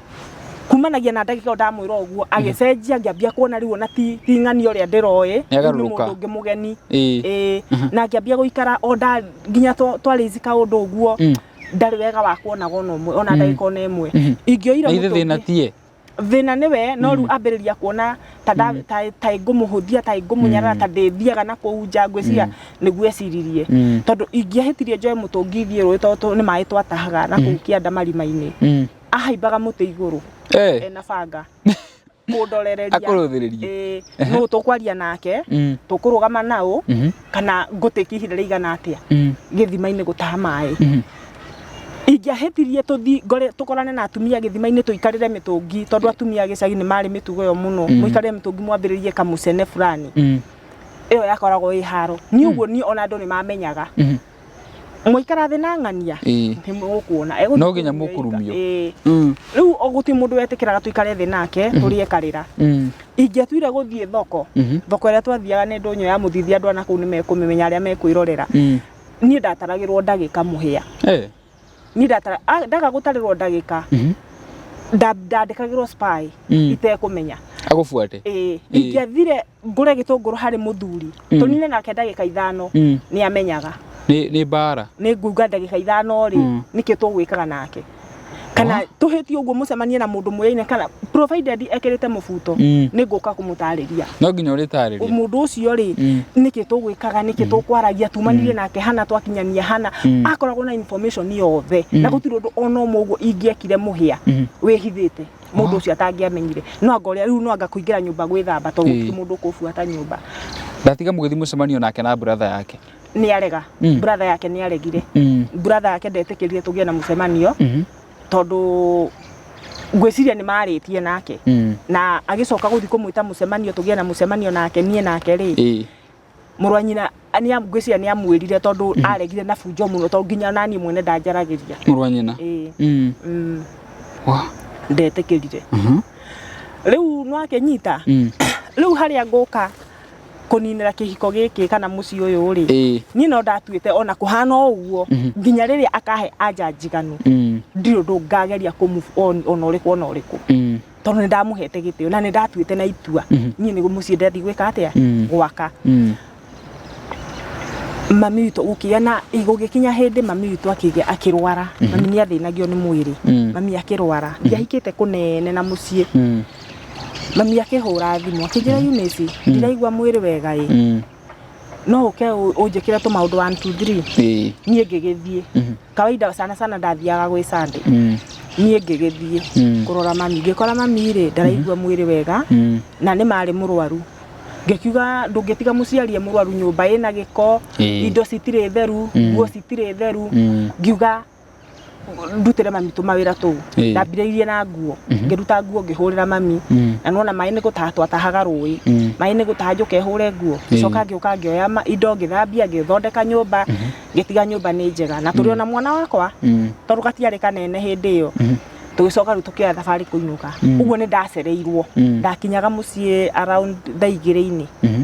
kumanagia na ndagika ndamwira uguo agicenjia ngiambia kuona riu ona ti ti ng'ani uria ndiroe Nĩagarũrũka. mundu ungi mugeni Ĩĩ. Ĩĩ. na ngiambia guikara o nda nginya twa- twarizi kaundu uguo Mm. ndarĩ wega wa kuonaga ona ũmwe ona ndagĩka ona ĩmwe Mhm. ingĩoire na ithe mũtũngi- thĩna tiye thĩna nĩ we no rĩu ambĩrĩria kuona ta nda- ta- ta ngũmũhũthia ta ngũmũnyarara ta ndĩthiaga na kũu nja ngwĩciria nĩguo eciririe Mm. tondũ ingĩahĩtirie njoe mũtũngi thiĩ rũĩ tondũ nĩ maĩ twatahaga na kũu kĩanda marima-inĩ Mm. ahaimbaga mũtĩ igũrũ Eh. ena banga kũndorereria Akũrũthĩrĩrie. Eh, nũ tũkwaria nake Mm. tũkũrũgama naũ Mhm. kana ngũtĩki ihinda rĩigana atĩa Mm. gĩthima-inĩ gũtaha maĩ Mhm. ingĩahĩtirie tũthi ngore tũkorane na atumia gĩthima-inĩ tũikarĩre mĩtũngi tondũ atumia a gĩcagi nĩ marĩ mĩtugo ĩyo mũno Mm. mũikarĩre mĩtũngi mwambĩrĩrie kamũcene fulani Mm. ĩyo yakoragwo ĩ haro niĩ ũguo niĩ ona andũ nĩ mamenyaga Mhm. mwaikara thĩ na ng'ania Ĩĩ. nĩ mũkuona Egũthiĩ No nginya kũrumio mũkũrumio. ika- ĩĩ. Mm. rĩu o gũtirĩ mũndũ wetĩkĩraga tũikare thĩ nake tũrĩe karĩra Mm. ingĩatuire gũthiĩ thoko Mhm. thoko ĩrĩa twathiaga nĩ ndũnyũ ya mũthithia andũ ana kũu nĩ mekũmĩmenya arĩa mekwĩrorera Mm. niĩ ndataragĩrwo ndagĩka mũhĩa Eh. ni ndatara a- ndaga gutarĩrwo ndagĩka nda- ndandĩkagĩrwo spy Mm. itekũmenya agubuate ĩĩ ingĩathire ngũre gĩtũngũrũ harĩ mũthuri tũnine nake ndagĩka ithano Mm. nĩ amenyaga nĩ nĩ mbara nĩ nguga ndagĩka ithano rĩ Mm. nĩkĩo tũgwĩkaga nake kana tũhĩtie ũguo mũcemanie na mũndũ mũyaine kana provided ekĩrĩte mũbuto Mm. nĩ ngũka kũmũtarĩria no nginya ũrĩtarĩria mũndũ ũcio rĩ Mm. nĩkĩ tũgwĩkaga nĩkĩ tũkwaragia tumanire nake hana twakinyania hana Mm. akoragwo na information yothe na gũtirĩ ũndũ ona ũmwe ũguo ingĩekire mũhĩa Mm. wĩhithĩte mũndũ ũcio atangĩamenyire no anga ũrĩa rĩu no anga kũingĩra nyũmba gwĩthamba tondũ Ĩĩ. gũtirĩ mũndũ ũkũbuata nyũmba ndatiga mũgĩthiĩ mũcemanio nake na brother yake nĩ arega Mm. brother yake nĩ aregire Mm. brother yake ndetĩkĩrire tũgĩe na mũcemanio Mhm. tondũ ngwĩciria nĩ marĩtie nake Mm. na agĩcoka gũthiĩ kũmwĩta mũcemanio tũgĩe na mũcemanio nake niĩ nake rĩ Ĩĩ. mũrũ wa nyina nĩ am- ngwĩciria nĩ amwĩrire tondũ aregire na bunjo mũno tondũ nginya naniĩ mwene ndanjaragĩria Mũrũ wa nyina. Ĩĩ, Mm. mm, Wa. ndetĩkĩrire Mhm. rĩu nwakenyita Mm. rĩu harĩa ngũka kũninĩra kĩhiko gĩkĩ kana mũciĩ ũyũ rĩ Ĩĩ. niĩ no ndatuĩte ona kũhana o ũguo nginya rĩrĩa akahe anja njiganu Mm. ndirĩ ũndũ ngageria kũ move on ona ũrĩkũ ona ũrĩkũ Mm. tondũ nĩ ndamũhete gĩtĩo na nĩ ndatuĩte na itua niĩ nĩ mũciĩ ndathiĩ gwĩka atĩa Mm. gwaka Mm. mami witũ gũkĩgĩa na gũgĩkinya hĩndĩ mami witũ akĩgĩa akĩrwara mami nĩ athĩnagio nĩ mwĩrĩ Mm. mami akĩrwara ndiahikĩte kũnene na mũciĩ Mm. mami akĩhũra thimũ akĩnjĩra Eunice ndiraigua mwĩrĩ wega ĩ Mm. no ũke ũ- ũnjĩkĩre tũmaũndũ 1 2 3 Ĩĩ. niĩ ngĩgĩthiĩ Mhm. kawaida sana sana ndathiaga gwĩ Sunday Mm. niĩ ngĩgĩthiĩ Mm. kũrora mami ngĩkora mami rĩ ndaraigua mwĩrĩ wega Mm. na nĩ marĩ mũrwaru ngĩkiuga ndũngĩtiga mũciari e mũrwaru nyũmba ĩna gĩko Ĩĩ. indo citirĩ theru Mm. nguo citirĩ theru Mm. ngiuga ndutĩre mami tũmawĩra tũu Ĩĩ. ndambirĩirie na nguo Mhm. ngĩruta nguo ngĩhũrĩra mami Mm. na nona maĩ nĩ gũtaha twatahaga rũĩ Mm. maĩ nĩ gũtaha njũke hũre nguo Ĩĩ. ngĩcoka ngĩũka ngĩoya ma- indo ngĩthambia ngĩthondeka nyũmba ngĩtiga nyũmba nĩ njega na tũrĩ ona mwana wakwa Mm. tondũ gatiarĩ kanene hĩndĩ ĩyo Mhm. tũgĩcoka rĩu tũkĩoya thabarĩ kũinũka Mm. ũguo nĩ ndacereirwo Mm. ndakinyaga mũciĩ around thaa igĩrĩ-inĩ Mhm.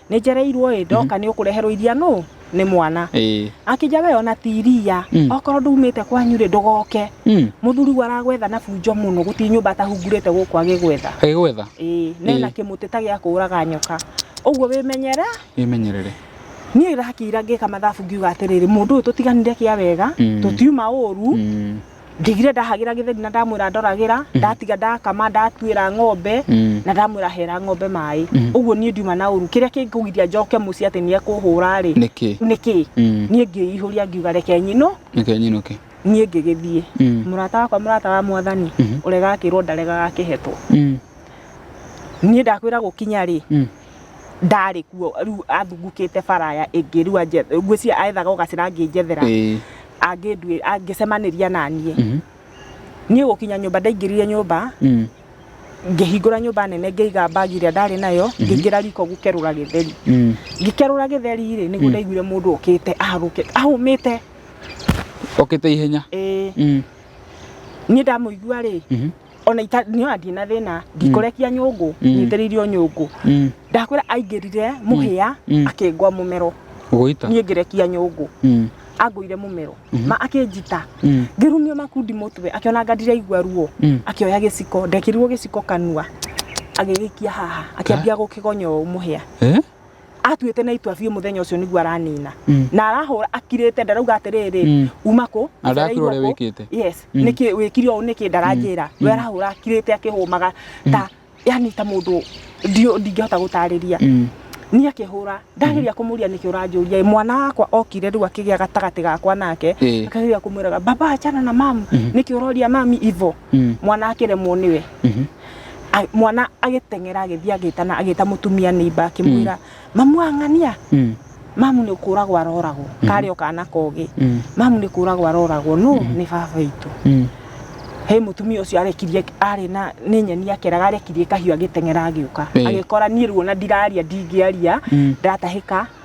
Nĩ njereirwo ĩ ndoka nĩ ũkũreherwo iria nũ nĩ mwana Ĩĩ. akĩnja we ona ti iria Mm. okorwo ndumĩte kwanyu rĩ ndũgoke Mm. mũthuri we aragwetha na bunjo mũno gũtirĩ nyũmba atahungurĩte gũkũ agĩgwetha Agĩgwetha. ĩĩ nena Ĩĩ. kĩmũtĩ ta gĩa kũũraga nyoka ũguo wĩmenyere Wĩmenyerere. niĩ ndakĩira ngĩka mathabu ngiuga atĩrĩrĩ mũndũ ũyũ tũtiganire kĩa wega Mm. tũtiuma ũru Mm. ndigire ndahagĩra gĩtheri na ndamwĩra ndoragĩra ndatiga ndakama ndatuĩra ng'ombe Mm. na ndamwĩra hera ng'ombe maĩ ũguo niĩ ndiuma na ũru kĩrĩa kĩngũgiria njoke mũciĩ atĩ nĩ ekũhũra rĩ Nĩkĩ? nĩkĩ Mm. niĩ ngĩihũria ngiuga reke nyinũ Nĩkĩ nyinũke? niĩ ngĩgĩthiĩ Mm. mũrata wakwa mũrata wa mwathani ũrega akĩrwo ndarega gakĩhetwo Mm. niĩ ndakwĩra gũkinya rĩ Mm. ndarĩ kuo rĩu athungukĩte baraya ĩngĩ rĩu anje- ngwĩciria aethaga ũgacĩra angĩnjethera Ĩĩ. angĩnduĩ- angĩcemanĩria naniĩ Mhm. niĩ gũkinya nyũmba ndaingĩrire nyũmba Mm. ngĩhingũra nyũmba nene ngĩiga mbagi ĩrĩa ndarĩ nayo ngĩingĩra riko gũkerũra gĩtheri Mm. ngĩkerũra gĩtheri-rĩ nĩguo ndaiguire mũndũ ũkĩte ahagũke ahũmĩte Okĩte ihenya. ĩĩ Mm. niĩ ndamũigua-rĩ Mhm. ona ita- nĩ ona ndina thĩna ndikũrekia nyũngũ nyitĩrĩirio nyũngũ Mm. ndakwĩra aingĩrire mũhĩa Mm. akĩngwa mũmero Gũita. niĩ ngĩrekia nyũngũ Mm. angũire mũmero ma akĩnjita Mm. ngĩrumio makundi mũtwe akĩona ngandire igua ruo Mm. akĩoya gĩciko ndekĩrirwo gĩciko kanua agĩgĩkia haha akĩambia gũkĩgonya ũũ mũhĩa Eh? atuĩte na itua biũ mũthenya ũcio nĩguo aranina Mm. na arahũra akirĩte ndarauga atĩrĩrĩ Mm. uma kũ Na ndarakĩrwo ũrĩa njereirwo kũ. wĩkĩte. yes Mm. nĩkĩ wĩkire ũũ nĩkĩ ndaranjĩra we arahũra akirĩte akĩhũmaga ta yani ta mũndũ ndio- ndingĩhota gũtarĩria Mm. niĩ akĩhũra ndageria kũmũria nĩkĩ ũranjũria mwana wakwa okire rĩu akĩgĩa gatagatĩ gakwa nake Ĩĩ. akageria kũmwĩraga baba achana na mamu nĩkĩ ũroria mami ivo mm. mwana akĩremwo nĩwe mm -hmm. A, mwana agĩteng'era agĩthiĩ agĩtana agĩta mũtumia nĩimba akĩmwĩra mm. mamu ang'ania mm. mamu nĩ kũragwo aroragwo mm. karĩ o kana kogĩ mm. mamu nĩ kũragwo aroragwo no mm. nĩ baba itũ mm. he mutumia ucio arekirie ari na ni nyeni akeraga arekirie kahiu agitengera agiuka agikora ni ruona ndiraria ndingiaria mm. ndatahika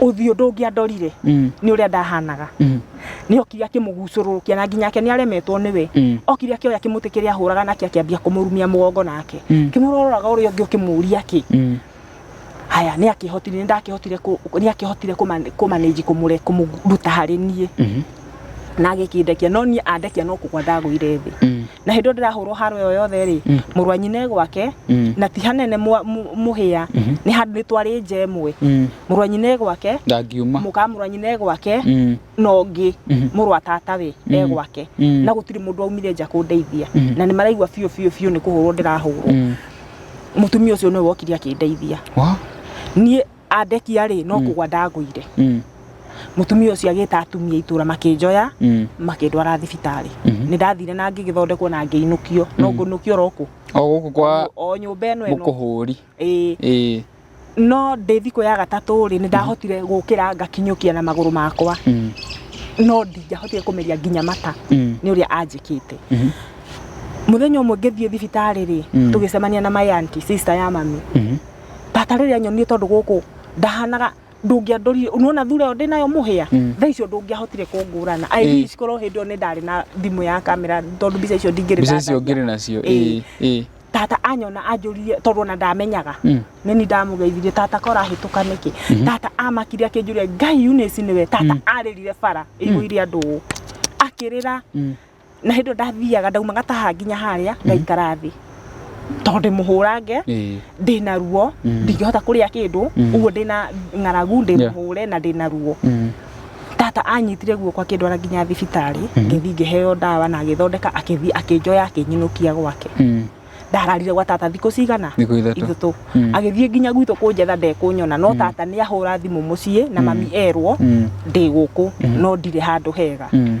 ũthiũ ndũngĩandorire Mm. nĩ ũrĩa ndahanaga Mm. nĩ okire akĩmũgucũrũrũkia na nginya ake nĩ aremetwo nĩwe Mm. okire akĩoya kĩmũtĩ kĩrĩa ahũraga nake akĩambia kũmũrumia mũgongo nake Mm. kĩmũrororaga ũrĩa ũngĩ ũkĩmũria kĩ Mm. haya nĩ akĩhotire nĩ ndakĩhotire kũ- nĩ akĩhotire kũmanĩji kũmũruta harĩ niĩ Mhm. na agĩkĩndekia no niĩ andekia no kũgwa ndagũire thĩ Mm. na hĩndĩ ĩyo ndĩrahũrwo haro ĩyo yothe rĩ Mm. mũrũ wa nyina e gwake Mm. na ti hanene mwa- mũ- mũhĩa Mhm. nĩ handũ nĩ twarĩ nja ĩmwe Mm. mũrũ wa nyina e gwake ndangiuma mũka mũrũ wa nyina e gwake Mm. na ũngĩ Mhm. mũrũ wa tata we e Mm. gwake Mm. na gũtirĩ mũndũ waumire nja kũndeithia Mhm. na nĩ maraigua biũ biũ biũ nĩ kũhũrwo ndĩrahũrwo Mm. mũtumia ũcio nĩwe wokire akĩndeithia Wa? niĩ andekia rĩ no kũgwa ndagũire mutumia ucio agita atumia itura makinjoya mm. makindwara thibitarĩ mm-hmm. nĩ ndathire na ngĩgĩthondekwo na ngĩinũkio no mm. ngũnũkio roku o gũkũ kwa o nyũmba ĩno ĩno mũkũhũri ĩĩ no ndĩ thikũ ya gatatũ rĩ nĩ ndahotire mm-hmm. gũkĩra ngakinyũkia na magũrũ makwa mm. no ndingĩahotire kũmeria nginya mata nĩ ũrĩa anjĩkĩte mm-hmm. muthenya ũmwe ngĩthiĩ thibitarĩ rĩ tũgĩcemania na my auntie sister ya mami bata rĩrĩa nyonie tondũ gũkũ ndahanaga ndũngĩandorire nona thura ĩyo ndĩnayo mũhĩa mm. thaa icio ndũngĩahotire kũngũrana i mm. wish korwo hĩndĩ ĩyo nĩ ndarĩ na thimũ ya kamera tondũ mbica icio ndingĩrĩ nacio tata anyona anjũririe tondũ ona ndamenyaga mm. nĩ ni ndamũgeithirie tata kora ahĩtũka nĩkĩ mhm. tata amakire akĩnjũria ngai unĩci nĩwe tata mm. arĩrire bara ĩihũire mm. andũ akĩrĩra na hĩndĩ ĩyo ndathiaga ndauma ngataha nginya harĩa ngaikara thĩ tondũ ndĩmũhũrange Ĩĩ. ndĩna ruo Mm. ndingĩhota kũrĩa kĩndũ Mm. ũguo ndĩna ng'aragu ndĩmũhũre na ndĩna ruo Mm. tata anyitire guoko akĩndwara nginya thibitarĩ ngĩthiĩ ngĩheo ndawa na agĩthondeka akĩthiĩ akĩnjoya akĩnyinũkia gwake Mm. ndararire gwa tata thikũ cigana Thikũ ithatũ. ithatũ Mm. agĩthiĩ nginya gwitũ kũnjetha ndekũnyona no tata nĩ ahũra thimũ mũciĩ na mami erwo Mm. ndĩ gũkũ no ndirĩ handũ hega Mm.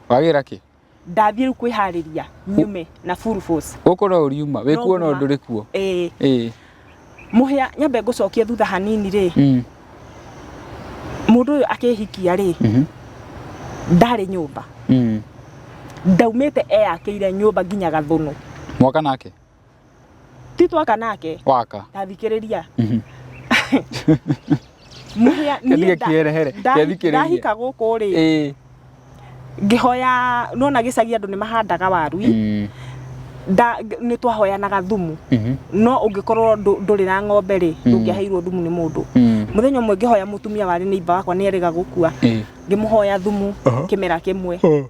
wagĩra kĩ ndathiĩ rĩu kwĩharĩria nyume na full force gũkũ no ũriuma wĩ No kuo no nguma. ndũrĩ kuo ĩĩ ĩĩ mũhĩa nyambe ngũcokie thutha hanini rĩ mm, mũndũ ũyũ akĩhikia rĩ mhm, ndarĩ nyũmba mm. ndaumĩte eyakĩire nyũmba nginya gathũnũ mwoka nake ti twaka nake waka ndathikĩrĩria Mhm. Mũhĩa- niĩ Kĩthiĩ nda- kĩerehere, nda- kĩthikĩrĩrie. ndahika gũkũ rĩ ĩĩ ngĩhoya nona gĩcagi andũ nĩ mahandaga waru ĩ, Mm, nda- ng- nĩ twahoyanaga thumu mhm, no ũngĩkorwo ndũ- ndũrĩ na ng'ombe rĩ Mm. ndũngĩaheirwo thumu nĩ mũndũ mm, mũthenya ũmwe ngĩhoya mũtumia warĩ nĩ iba wakwa nĩ erĩga gũkua ĩĩ. ngĩmũhoya thumu Aha. kĩmera kĩmwe Oh,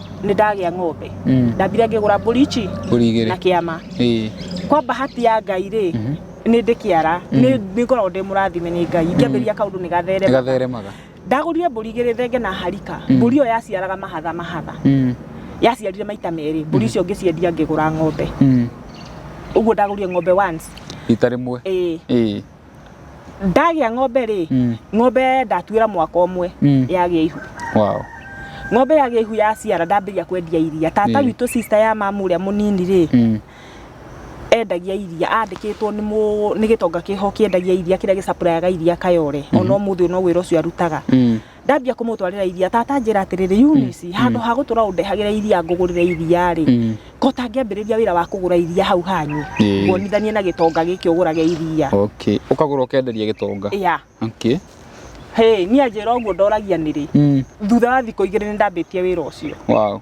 nĩ ndagĩa ng'ombe Mm. ndambire ngĩgũra mbũri ici Mbũri igĩrĩ. na kĩama Ĩĩ. kwa bahati ya ngai rĩ nĩ ndĩ kĩara nĩ nĩ ngoragwo ndĩ mũrathime nĩ ngai ngĩambĩrĩria kaũndũ nĩ gatherema Ĩgatheremaga. ndagũrire mbũri igĩrĩ thenge na harika mbũri ĩyo yaciaraga mahatha mahatha Mm. yaciarire maita merĩ mbũri icio ngĩciendia ngĩgũra ng'ombe Mm. ũguo ndagũrire ng'ombe once Rita rĩmwe. ĩĩ Ĩĩ. ndagĩa ng'ombe rĩ Mm. ng'ombe ndatuĩra mwaka ũmwe Mm. yagĩa ihu wow ng'ombe yagĩa ihu yaciara ndambĩria kwendia iria tata Mm. witũ sister ya mamu ũrĩa mũnini rĩ mm. endagia iria andĩkĩtwo nĩ mũ- nĩ gĩtonga kĩho kĩendagia iria kĩrĩa gĩcapurayaga iria kayore ona ũmũthĩ no wĩra ũcio arutaga Mm. ndambia kũmũtwarĩra iria tata njĩra atĩrĩrĩ Eunice handũ ha gũtũra ũndehagĩra iria ngũgũrĩre iria rĩ Mm. kota ngĩambĩrĩria wĩra wa kũgũra iria hau hanyu Ĩĩ. nguonithanie na gĩtonga gĩkĩ ũgũrage iria Okay. Ũkagũra ũkenderia gĩtonga. ya Okay. hĩ niĩ anjĩra ũguo ndoragia nĩrĩ Mm. thutha wa thikũ igĩrĩ nĩ ndambĩtie wĩra ũcio Wow.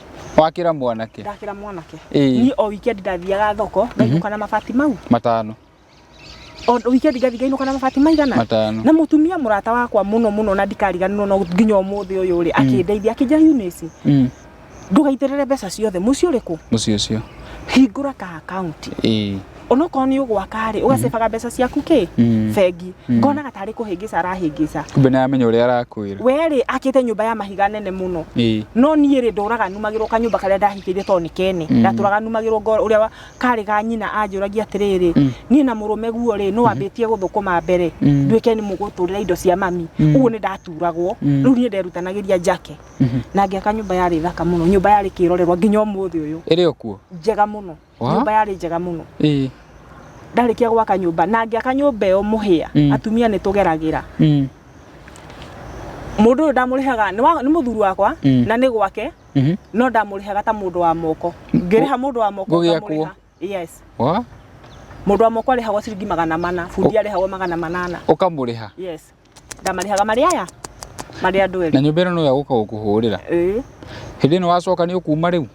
wakira mwanake ndakira mwanake Ĩĩ. ni o weekend ndathiaga thoko ngainuka na mabati mau matano o weekend ngathi ngainuka na mabati maigana matano na mutumia murata wakwa muno muno na ndikariganirwo no nginya umuthi uyu ri akindeithia akinja Eunice Mm, ndugaitirire mbeca ciothe muci uriku muciĩ ũcio hingura ka account ĩĩ onokorwo nĩ ũgwaka rĩ ũgacebaga mbeca ciaku kĩ Mm. bengi Mm. ngonaga tarĩ kũhĩngĩca arahĩngĩca kumbe nĩ aramenya ũrĩa arakwĩra we rĩ akĩte nyũmba ya mahiga nene mũno Ĩĩ. no niĩ rĩ ndũraga numagĩrwo kanyũmba karĩa ndahikĩire tondũ nĩ kene Mm. ndatũraga numagĩrwo ngo ũrĩa wa- karĩ ga nyina anjũragia atĩrĩrĩ Mm. niĩ na mũrũme guo rĩ nĩ wambĩtie gũthũkũma mbere Mm. nduĩke nĩ mũgũtũrĩra indo cia mami Mm. ũguo nĩ ndaturagwo Mm. rĩu niĩ nderutanagĩria njake Mhm. na ngĩaka nyũmba yarĩ thaka mũno nyũmba yarĩ kĩrorerwa nginya ũmũthĩ ũyũ ĩrĩ o kuo njega mũno Wa? nyũmba yarĩ njega mũno ĩ ndarĩkia gwaka nyũmba na ngĩaka nyũmba ĩyo mũhĩa Mm. atumia nĩ tũgeragĩra mm, mũndũ ũyũ ndamũrĩhaga nĩ wa- nĩ mũthuri wakwa Mm. na nĩ gwake mhm, no ndamũrĩhaga ta mũndũ wa moko ngĩrĩha mũndũ wa moko Gũgĩakwo. ngamũrĩha. yes wa mũndũ wa moko arĩhagwo ciringi magana mana bundi arĩhagwo magana manana ũkamũrĩha yes ndamarĩhaga marĩ aya marĩ andũ erĩ na nyũmba ĩno nĩyo gũka gũkũhũrĩra ĩĩ hĩndĩ ĩno wacoka nĩ ũkuma rĩu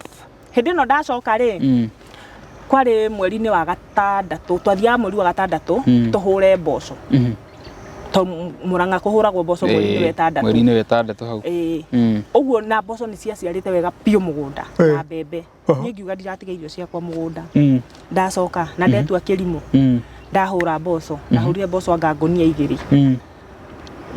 hĩndĩ ĩno ndacoka rĩ mm. kwarĩ mweri-inĩ wa gatandatũ twathiaga mweri wa gatandatũ Mm. tũhũre mboco mm. to mũrang'a kũhũragwo mboco mweri-inĩ wa ĩtandatũ mweri-inĩ wa ĩtandatũ hau Ĩĩ. Mm. ũguo na mboco nĩ ciaciarĩte wega biũ mũgũnda na mbembe niĩ ngiuga ndiratiga irio ciakwa mũgũnda Mm. ndacoka na ndetua kĩrimũ Mm. ndahũra mboco ndahũrire mboco anga ngũnia igĩrĩ Mm.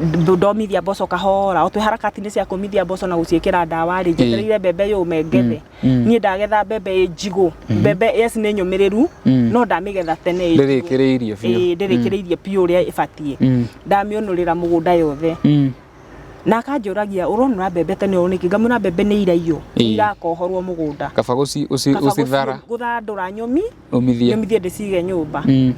Ndo- ndomithia mboco kahora otwe harakatinĩ cia kũmithia mboco na gũciĩkĩra ndawa rĩ njetereire mbembe yũme ngethe Mm. niĩ ndagetha mbembe ĩ njigũ mbembe yes nĩ nyũmĩrĩru Mm. no ndamĩgetha tene ĩ njigũ. Ndĩrĩkĩrĩirie biũ. Ĩĩ, ndĩrĩkĩrĩirie biũ ũrĩa ĩbatiĩ Mm. ndamĩũnũrĩra mũgũnda yothe Mm. na akanjũragia ũronũra mbembe tene ũũ nĩkĩ ngamwĩra mbembe nĩ iraiyũ Ĩĩ. nĩ irakohorwo mũgũnda kaba gũci- ũci- Kaba ũcithara gũci- gũthandũra nyũmi ũmithie nyũmithie ndĩcige nyũmba Mm.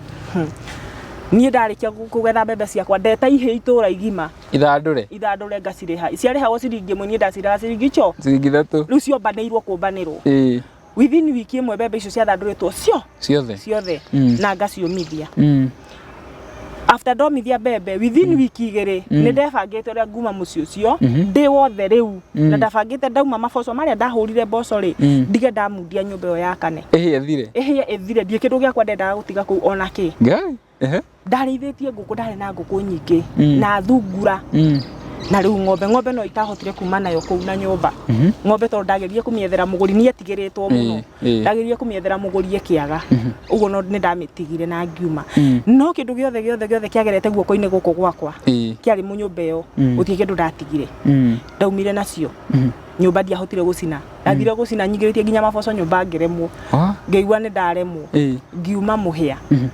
niĩ ndarĩkia kũ- kũgetha mbembe ciakwa ndeta ihĩ itũra igima ithandũre ithandũre ngacirĩha ciarĩhagwo ciringi ĩmwe niĩ ndacirĩha ciringi ico ciringi ithatũ rĩu ciombanĩirwo kũmbanĩrwo Ĩĩ. within wiki ĩmwe mbembe icio ciathandũrĩtwo cio ciothe ciothe Mm. na ngaciũmithia Mm. after ndomithia mbembe within wiki igĩrĩ nĩ ndebangĩte ũrĩa nguma mũciĩ ũcio ndĩ wothe rĩu na ndabangĩte ndauma maboco marĩa ndahũrire mboco rĩ Mm. ndige ndamundia nyũmba ĩyo yakane ĩhĩe thire ĩhĩe ĩthire ndiĩ kĩndũ gĩakwa ndendaga gũtiga kũu ona kĩ ngai Ehe. ndarĩithĩtie ngũkũ ndarĩ na ngũkũ nyingĩ Mm. na thungura Mm. na rĩu ng'ombe ng'ombe no itahotire kuma nayo kũu na nyũmba Mhm. ng'ombe tondũ ndageririe kũmĩethera mũgũri niĩ tigĩrĩtwo mũno Ĩĩ, ĩĩ. ndageririe kũmĩethera mũgũri ĩkĩaga ũguo no nĩ ndamĩtigire na ngiuma Mm. no kĩndũ gĩothe gĩothe gĩothe kĩagerete guoko-inĩ gũkũ gwakwa Ĩĩ. kĩarĩ mũnyũmba ĩyo Mm. gũtirĩ kĩndũ ndatigire Mm. ndaumire nacio Mhm. nyũmba ndiahotire gũcina ndathire gũcina nyingĩrĩtie nginya maboco nyũmba ngĩremwo Ah, ngĩigua nĩ ndaremwo eh, ngiuma mũhĩa mhm,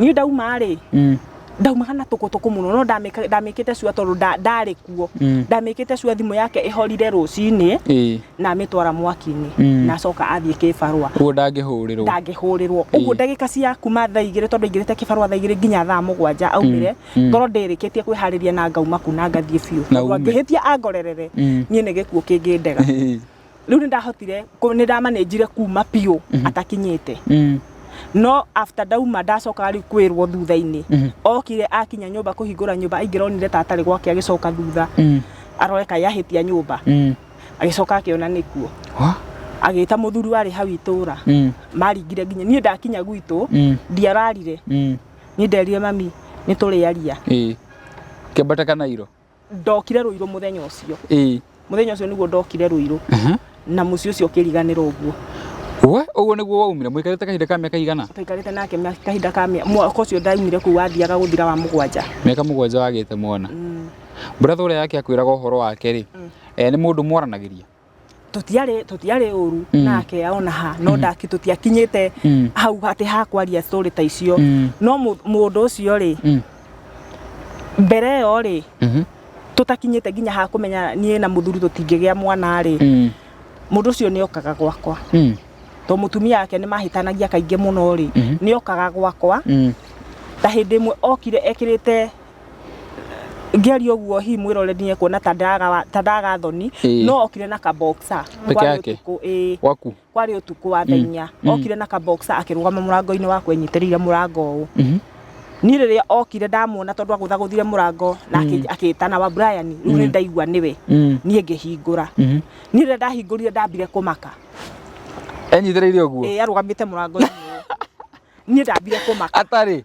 niĩ ndauma rĩ mm, ndaumaga na tũkũtũkũ mũno no ndamĩka- ndamĩkĩte cua tondũ nda- ndarĩ kuo mm, ndamĩkĩte cua thimũ yake ĩhorire rũcinĩ eh, na amĩtwara mwaki-inĩ Mm. na acoka athiĩ kĩbarũa ũguo ndangĩhũrĩrwo ndangĩhũrĩrwo ũguo ndagĩka cia kuma thaa igĩrĩ tondũ aingĩrĩte kĩbarũa thaa igĩrĩ nginya thaa mũgwanja aumire Mm. ngoro ndĩrĩkĩtie kwĩharĩria na ngauma ku na ngathiĩ biũ Na Tondũ ume. angĩhĩtia angorerere Mm. niĩ nĩ gĩkuũ kĩngĩndega rĩu nĩ ndahotire kũ- nĩ ndamanĩnjire kuma biũ atakinyĩte Mm. no after ndauma ndacokaga rĩu kwĩrwo thutha-inĩ Mhm. okire akinya nyũmba kũhingũra nyũmba aingĩra onire ta atarĩ gwake agĩcoka thutha Mm. arore kaĩ ahĩtia nyũmba Mm. agĩcoka akĩona nĩkuo Wha? agĩta mũthuri warĩ hau itũra Mm. maringire nginya niĩ ndakinya gwitũ Mm. ndiararire Mm. Niĩ nderire mami nĩ tũrĩaria. Ĩĩ. Kĩambata kana Ruiru? Ndokire Ruiru mũthenya ũcio. Ĩĩ. Mũthenya ũcio nĩguo ndokire Ruiru. Na mũciĩ ũcio ũkĩriganĩra ũguo. We, ũguo nĩguo waumire? Mũikarĩte kahinda ka mĩaka igana? Twaikarĩte nake kahinda ka mĩaka, mwaka ũcio ndaumire kũu wathiaga gũthira wa mũgwanja. Mĩaka mũgwanja wagĩte mwana. Brother ũrĩa yake akwĩraga ũhoro wake-rĩ, nĩ mũndũ mwaranagĩria? tũtiarĩ tũtiarĩ ũru Mm. nake ona ha no ndaki tũtiakinyĩte Mm. hau atĩ ha kwaria story ta icio Mm. no mũ- mũndũ ũcio rĩ Mm. mbere ĩyo rĩ Mhm. tũtakinyĩte nginya ha kũmenya niĩ na mũthuri tũtingĩgĩa mwana rĩ Mm. mũndũ ũcio nĩ okaga gwakwa Mm. to mũtumia wake nĩ mahĩtanagia kaingĩ mũno rĩ Mhm. nĩ okaga gwakwa Mm. ta hĩndĩ ĩmwe okire ekĩrĩte ngĩaria ũguo hihi mwĩrore nĩ ekuona ta ndaga ta ndaga thoni Ĩĩ. no okire na ka boxer Peke kwarĩ yake? ũtukũ ĩĩ Waku. kwarĩ ũtukũ wa thaa inya okire na ka boxer akĩrũgama mũrango-inĩ wakwa enyitĩrĩire mũrango ũũ Mhm. niĩ rĩrĩa okire ndamuona tondũ agũthagũthire mũrango na akĩ- akĩtana wa Brian rĩu nĩ ndaigua nĩwe Mm. niĩ ngĩhingũra Mhm. niĩ rĩrĩa ndahingũrire ndambire kũmaka Enyitĩrĩire ũguo. ĩĩ arũgamĩte mũrango-inĩ ũũ. niĩ ndambire kũmaka Atarĩ.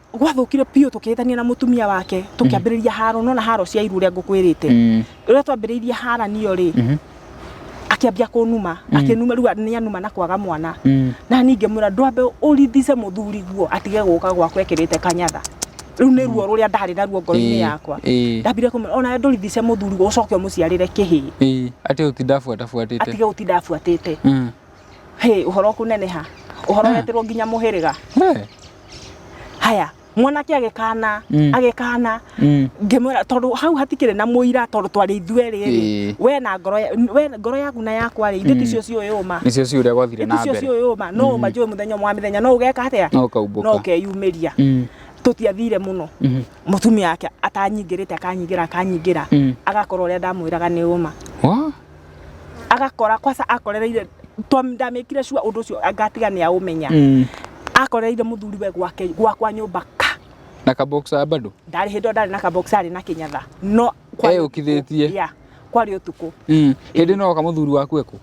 gwathũkire biũ tũkĩhĩtania na mũtumia wake tũkĩambĩrĩria haro nona haro cia iru ũrĩa ngũkwĩrĩte Mm. rĩrĩa twambĩrĩirie haranio rĩ Mhm. akĩambia kũnuma akĩnuma rĩu nĩ anuma na kwaga mwana Mm. na ningĩ mwĩra ndwambe ũrithice mũthuri guo atige gũka gwakwa ekĩrĩte kanyatha rĩu nĩ ruo rũrĩa ndarĩ naruo ngoro-inĩ Ĩĩ, yakwa ĩĩ. ndambire kũmwĩra ona ndũrithice mũthuri guo ũcoke ũmũciarĩre kĩhĩĩ Ĩĩ, atige gũtinda abuatabuatĩte atige gũtinda abuatĩte Mm. Hĩ, ũhoro kũneneha ũhoro weterwo nginya mũhĩrĩga Eh, haya mwanake agĩkana Mm. agĩkana mm. ngĩmwĩra tondũ hau hatikĩrĩ na mũira tondũ twarĩ ithuerĩ Ĩĩ. rĩ we na ngoro ya- we ngoro yaku na yakwa rĩ ithuĩ ti cio ciũĩ ũma nĩcio ciĩ ũrĩa gwathire na ithuĩ cio mbere ciũĩ ũma no ũma njũĩ mũthenya ũmwe wa mĩthenya no ũgeka atĩa no no ũkaumbũka ũkeyumĩria Mm, tũtiathire mũno mhm, mũtumia wake atanyingĩrĩte akanyingĩra akanyingĩra mm. agakorwo ũrĩa ndamwĩraga nĩ ũma Wah, agakora kwaca akorereire to ndamekire sure undu ucio ngatiga ni aumenya Mm. akorereire muthuri we gwake gwakwa nyumba ka na kaboxa bado ndari hindo ndari na kabox ari na kinyatha no kwari Eyũkithĩtie. ya kwari utuku Mm. hindi no kamuthuri waku eku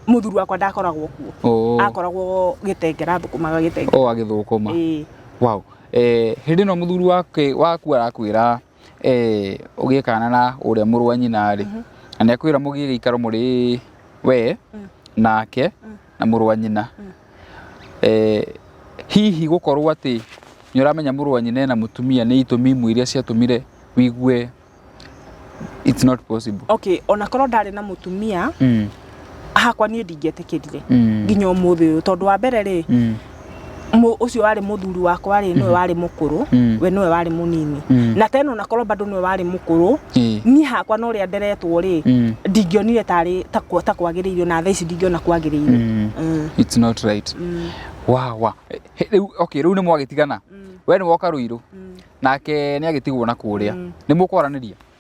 muthuri wakwa ndakoragwo kuo Oh. akoragwo gitengera thukumaga gitengera o agithukuma ĩĩ wow eh hindi no muthuri wake waku arakwira eh, ũgĩkana na ũrĩa mũrũ wa nyina rĩ na nĩ akwĩra mũgĩe gĩikaro mũrĩ we nake na mũrũ wa nyina eh, hihi gũkorwo atĩ nĩ ũramenya mũrũ wa nyina na mũtumia nĩ itũmi imwe iria ciatũmire wigue it's not possible okay ona korwo ndarĩ na mũtumia mm. hakwa niĩ ndingĩetĩkĩrire Mm. nginya ũmũthĩ ũyũ tondũ wa mbere rĩ Mm. mũ- ũcio warĩ mũthuri wakwa rĩ nĩwe warĩ mũkũrũ Mm. we nĩwe warĩ mũnini Mm. na tena onakorwo bado nĩwe warĩ mũkũrũ Eh. niĩ hakwa na ũrĩa nderetwo rĩ Mm. ndingĩonire tarĩ ta kwa- ta kwagĩrĩirio na thaa ici ndingĩona kwagĩrĩirio Mm. Mm. It's not right. Mm. Wa wa. Eh, eh, Rĩu okay, rĩu nĩ mwagitigana. Mm. We nĩ woka Ruiru. Mm. Nake nĩ agitigwo na kũrĩa. Mm. Nĩ mũkwaranĩria.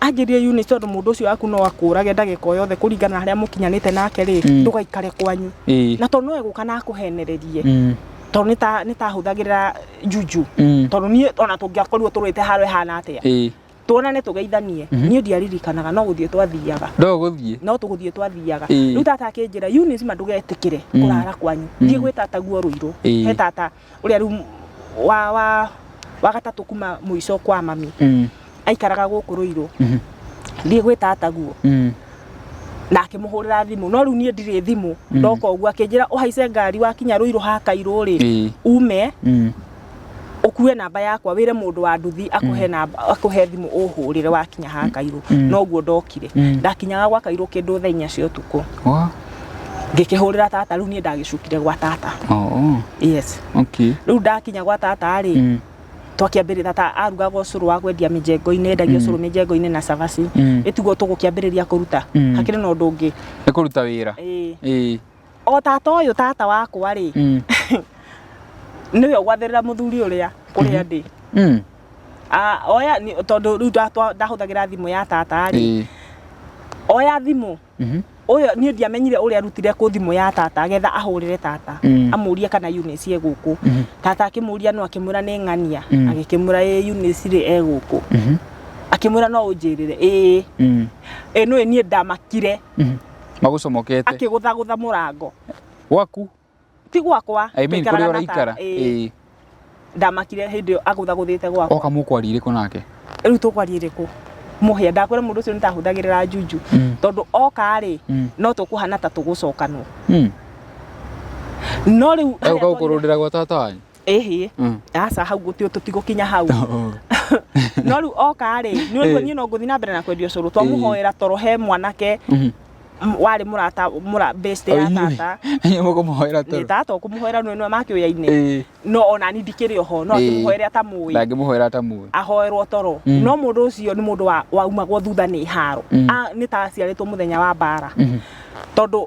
Anjĩrie Eunice tondũ mũndũ ũcio waku no akũrage ndagĩka o yothe kũringana na harĩa mũkinyanĩte nake rĩ, Mm. ndũgaikare kwanyu. Ĩĩ. Na tondũ no egũka na akũhenererie Mm. tondũ nĩ ta- nĩ ta hũthagĩra juju. Mm. Tondũ niĩ ona tũngĩakorirwo tũrũĩte haro ĩhana atĩa. Ĩĩ. Tuonane tũgeithanie. Mhm. Niĩ ndiaririkanaga no gũthiĩ twathiaga. No gũthiĩ. No tũgũthiĩ twathiaga. Ĩĩ. Rĩu tata akĩnjĩra Eunice ma ndũgetĩkĩre Mm. kũrara kwanyu. Mm. Thiĩ gwĩ tataguo Rũirũ. Ĩĩ. He tata ũrĩa rĩu m- wa wa wa gatatũ kuma mũico kwa mami Mm. aikaraga gũkũ rũirũ Mhm. thiĩ gwĩ tata guo Mm. na akĩmũhũrĩra thimũ no rĩu niĩ ndirĩ thimũ ndoka ũguo akĩnjĩra ũhaice ngari wakinya rũirũ hakairũ rĩ Ĩĩ. ume Mm. ũkue namba yakwa wĩre mũndũ wa nduthi akũhe namba akũhe thimũ ũhũrĩre wakinya hakairũ Mm. no ũguo ndokire Mm. ndakinyaga gwakairũ kĩndũ thaa inya cia ũtukũ Wa. ngĩkĩhũrĩra tata rĩu niĩ ndagĩcukire gwa tata oh, yes okay. rĩu ndakinya gwa tata rĩ mm. twakĩambĩrĩria tata arugaga ũcũrũ wa kwendia mĩjengo-inĩ endagia mm. ũcũrũ mĩjengo-inĩ na cabaci mm. ĩtugo tũgũkĩambĩrĩria kũruta mm. hakĩrĩ na ũndũ ũngĩ nĩ kũruta wĩra ĩĩ o tata ũyũ tata wakwa rĩ mm. nĩwe ũgwathĩrĩra mũthuri ũrĩa kũrĩa mm-hmm. ndĩ mm. oya tondũ rĩu ndahũthagĩra thimũ ya tata rĩ oya thimũ Mhm. ũyũ niĩ ndiamenyire ũrĩa arutire kũ thimũ ya tata agetha ahũrĩre tata Mm. amũrie kana Eunice e gũkũ Mhm. tata akĩmũria no akĩmwĩra nĩ ng'ania Mm. agĩkĩmwĩra ĩ Eunice rĩ e gũkũ Mhm. akĩmwĩra no ũnjĩrĩre ĩĩ Mm. ĩ nũĩ niĩ ndamakire Mhm. magũcomokete akĩgũthagũtha mũrango gwaku ti gwakwa I mean kũrĩa ũraikara ĩĩ ndamakire hĩndĩ ĩyo agũthagũthĩte gwakwa oka mũkwaria irĩkũ nake rĩu tũkwaria irĩkũ mũhĩa ndakwĩra mũndũ ũcio nĩtahũthagĩrĩra njunju mm. tondũ oka rĩ mm. no tũkũhana ta tũgũcokanwo mm. no rĩu ũkaũkũrũndĩra gwa tata wanyu ĩhĩ Mm. aca hau gũtio tũtigũkinya hau Oh. no rĩu oka rĩ nĩ ũndũ Eh. niĩ no ngũthiĩ na mbere na kwendia ũcũrũ twamũhoera toro he mwanake Mhm. m- warĩ mũrata mũra best ya Oh, inyuĩ. tata Inyuĩ mũkũmũhoera toro. nĩ tata ũkũmũhoera nĩ nĩ make ũyainĩ Eh, no ona ni ndikĩrĩ oho no Eh. akĩmũhoere atamũĩ ndangĩmũhoera atamuĩ. ahoerwo toro Mm. no mũndũ ũcio nĩ mũndũ wa- waumagwo thutha nĩ haro Mm. A- nĩ ta aciarĩtwo mũthenya wa mbara Mhm. tondũ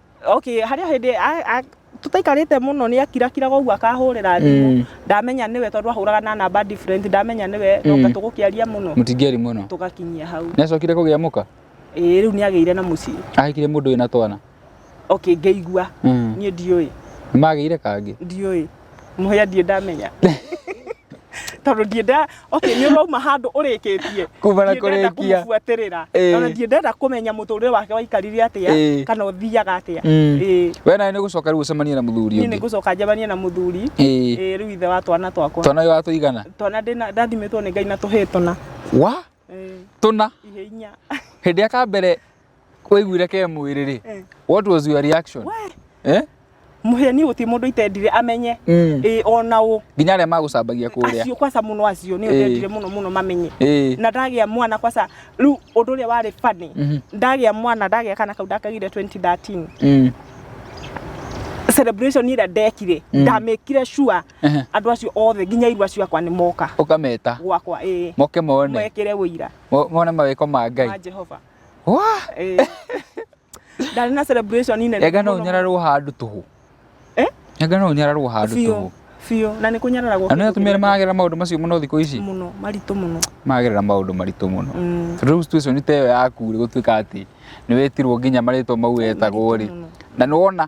okay harĩa hĩndĩ a- a- tũtaikarĩte mũno nĩ akirakiraga ũguo akahũrĩra thimũ Mm. ndamenya nĩwe tondũ ahũraga na namba different ndamenya nĩwe noka Mm. tũgũkĩaria mũno mũtingĩari mũno tũgakinyia hau nĩ acokire kũgĩa mũka ĩĩ rĩu nĩ agĩire na mũciĩ ahikire mũndũ wĩna twana okay ngĩigua Mm. niĩ ndiũĩ nĩ magĩire kangĩ ndiũĩ Mũhĩa ndiĩ ndamenya. Tondũ ndiĩ nda, okay nĩ ũrauma handũ ũrĩkĩtie. Kuma na Ndiĩ ndenda kũrĩkia. kũmũbuatĩrĩra. Ĩĩ. Ona ndiĩ ndenda kũmenya mũtũrĩre wake waikarire Ĩĩ. atĩa kana ũthiaga atĩa. Mm. Ĩĩ. We nawe nĩ ũgũcoka rĩu ũcemanie na mũthuri Niĩ nĩ ũngĩ. ngũcoka njemanie na mũthuri. Ĩĩ. Ĩĩ rĩu ithe wa twana twakwa. Twana watũigana. Twana ndĩna ndathimĩtwo nĩ Ngai na tũhĩĩ tũna. Wa? tuna ihe inya hĩndĩ ya ka mbere waiguire ke mwĩrĩ rĩ Eh. what was your reaction we eh? muhe ni guti mundu itendire amenye Mm. ĩ ona ũ nginya arĩa magũcambagia kũrĩa acio kwaca mũno acio nĩ Eh. ũtendire mũno mũno mamenye Eh. na ndagĩa mwana kwaca rĩu ũndũ ũrĩa warĩ bani Mhm. ndagĩa mwana ndagĩa kana kau ndakagire 2013 Mm. celebration ĩrĩa ndekire Mm. ndamĩkire sure Ehe. andå acio othe nginya irua ciakwa nä moka Ũkameta. gwakwa ä Moke mone. mwekere wå ira Mo- Mone mawĩko ma wa Ngai. jehova Wa! Ĩĩ. ndarä na celebration nene Enga no mũno. ũnyararwo handũ tũhũ. Eh? Enga no ũnyararwo handũ Biũ, tũhũ. biũ na nä kå nyararagwo Na nĩ atumia nĩ maragerera maũndũ macio mũno thikũ ici. må no maritå må no Maragerera maũndũ maritũ mũno. Mm. Tondũ rĩu situation ta ĩyo yaku rĩ gũtuĩka atĩ nĩ wetirwo nginya marĩtwa mau wetagwo rĩ. Maritũ mũno. Na nĩ wona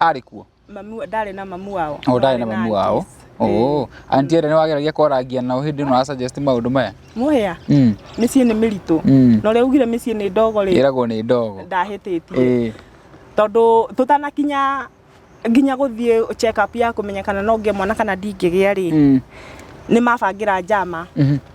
arĩ kuo mamu ndarĩ na mamu wao o ndarĩ na mamu wao aunties. oo anti ĩrĩa nĩ wageragia kwarangia nao hĩndĩ ĩno asuggest maũndũ maya mũhĩa Mm, mĩciĩ nĩ mĩritũ mm. na ũrĩa ugire mĩciĩ nĩ ndogo rĩ ĩragwo nĩ ndogo ndahĩtĩtie Ĩĩ. tondũ tũtanakinya nginya gũthiĩ check up ya kũmenya kana no ngĩe mwana kana ndingĩgĩa rĩ Mm, nĩ mabangĩra njama mhm.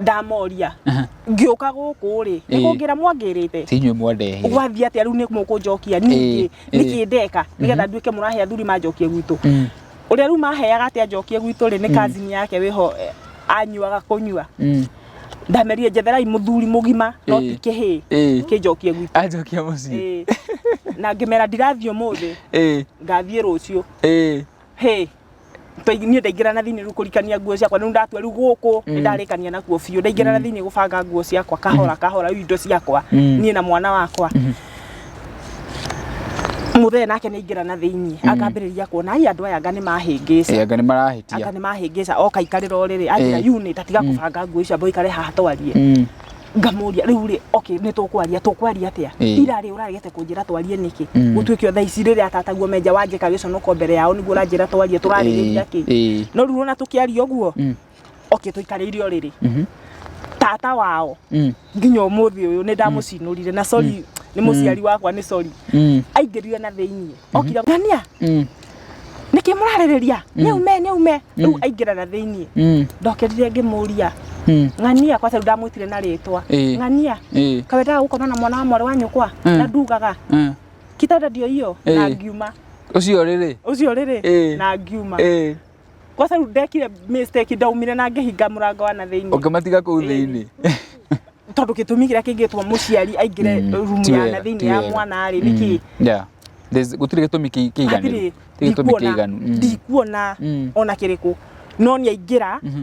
ndamoria Aha. ngĩũka gũkũ rĩ nĩ Ĩĩ. kũngĩra mwangĩrĩte ti inyuĩ mwandehire gwathiĩ atĩa rĩu nĩ mũkũnjokia ningĩ Ĩĩ, ĩĩ. nĩkĩ ndeka nĩgetha nduĩke mũrahe athuri manjokie gwitũ Mm, ũrĩa rĩu maheaga atĩ anjokie gwitũ rĩ nĩ kazini yake wĩho eh, anyuaga kũnyua mm. ndamerire njetherai mũthuri mũgima no Ĩĩ. ti kĩhĩĩ Ĩĩ. kĩnjokie gwitũ anjokia mũciĩ Ĩĩ. na ngĩmera ndirathiĩ ũmũthĩ Ĩĩ, ngathiĩ rũciũ ĩĩ. hĩ Tũi- niĩ ndaingĩra na thĩinĩ rĩu kũrikania nguo ciakwa rĩu ndatua rĩu gũkũ nĩ ndarĩkania nakuo biũ ndaingĩra na thĩinĩ gũbanga nguo ciakwa kahora kahora rĩu indo ciakwa Mm. niĩ na mwana wakwa mũthee nake nĩ aingĩra na thĩinĩ akambĩrĩria kuona ai andũ aya anga nĩ mahĩngĩca anga nĩ marahĩtia anga nĩ mahĩngĩca oka ikarĩra o rĩrĩ anjĩra Eh. unit atiga kũbanga nguo icio ambo ikare haha twarie Mm. ngamũria rĩu rĩ okay nĩ tũkwaria tũkwaria atĩa Ĩĩ. ira rĩ ũragete kũnjĩra twarie nĩkĩ Mm. gũtuĩke o thaa ici rĩrĩa atataguo menja wanjĩka gĩconoko mbere yao nĩguo ũranjĩra twarie tũrarĩrĩria kĩ Ĩĩ. no rĩu ona tũkĩaria ũguo Mm. okay tũikarĩire o rĩrĩ Mhm. tata wao Mm. nginya ũmũthĩ ũyũ nĩ ndamũcinũrire na sorry nĩ mũciari wakwa nĩ sorry Mm. aingĩrire na thĩinĩ okira ngania Mm. nĩkĩ mũrarĩrĩria nĩume nĩume rĩu aingĩra na thĩiniĩ Mm. ndokerire ngĩmũria Mm. ng'ania kwa tondũ ndamwĩtire na rĩtwa Ĩĩ. ng'ania Ĩĩ. kawendaga gũkoma na mwana wa mwarĩ wa nyũkwa Mm. na ndugaga Mm. kitanda ndio hiyo na Ĩĩ. ngiuma Ũcio rĩrĩ. ũcio rĩrĩ Ĩĩ. na ngiuma Ĩĩ. Kwanza rĩu ndekire mistake ndaumire na ngĩhinga mũrango wa na thĩinĩ. Ũkĩmatiga kũu thĩinĩ. Tondũ gĩtũmi kĩrĩa kĩngĩtwo mũciari aingĩre mm, rumu ya na thĩinĩ ya mwana rĩ nĩkĩ? Mm, yeah. Gũtirĩ gĩtũmi kĩiganu. Gũtirĩ gĩtũmi kĩiganu. Mm. Ndikuona ona kĩrĩkũ. No nĩ aingĩra mhm.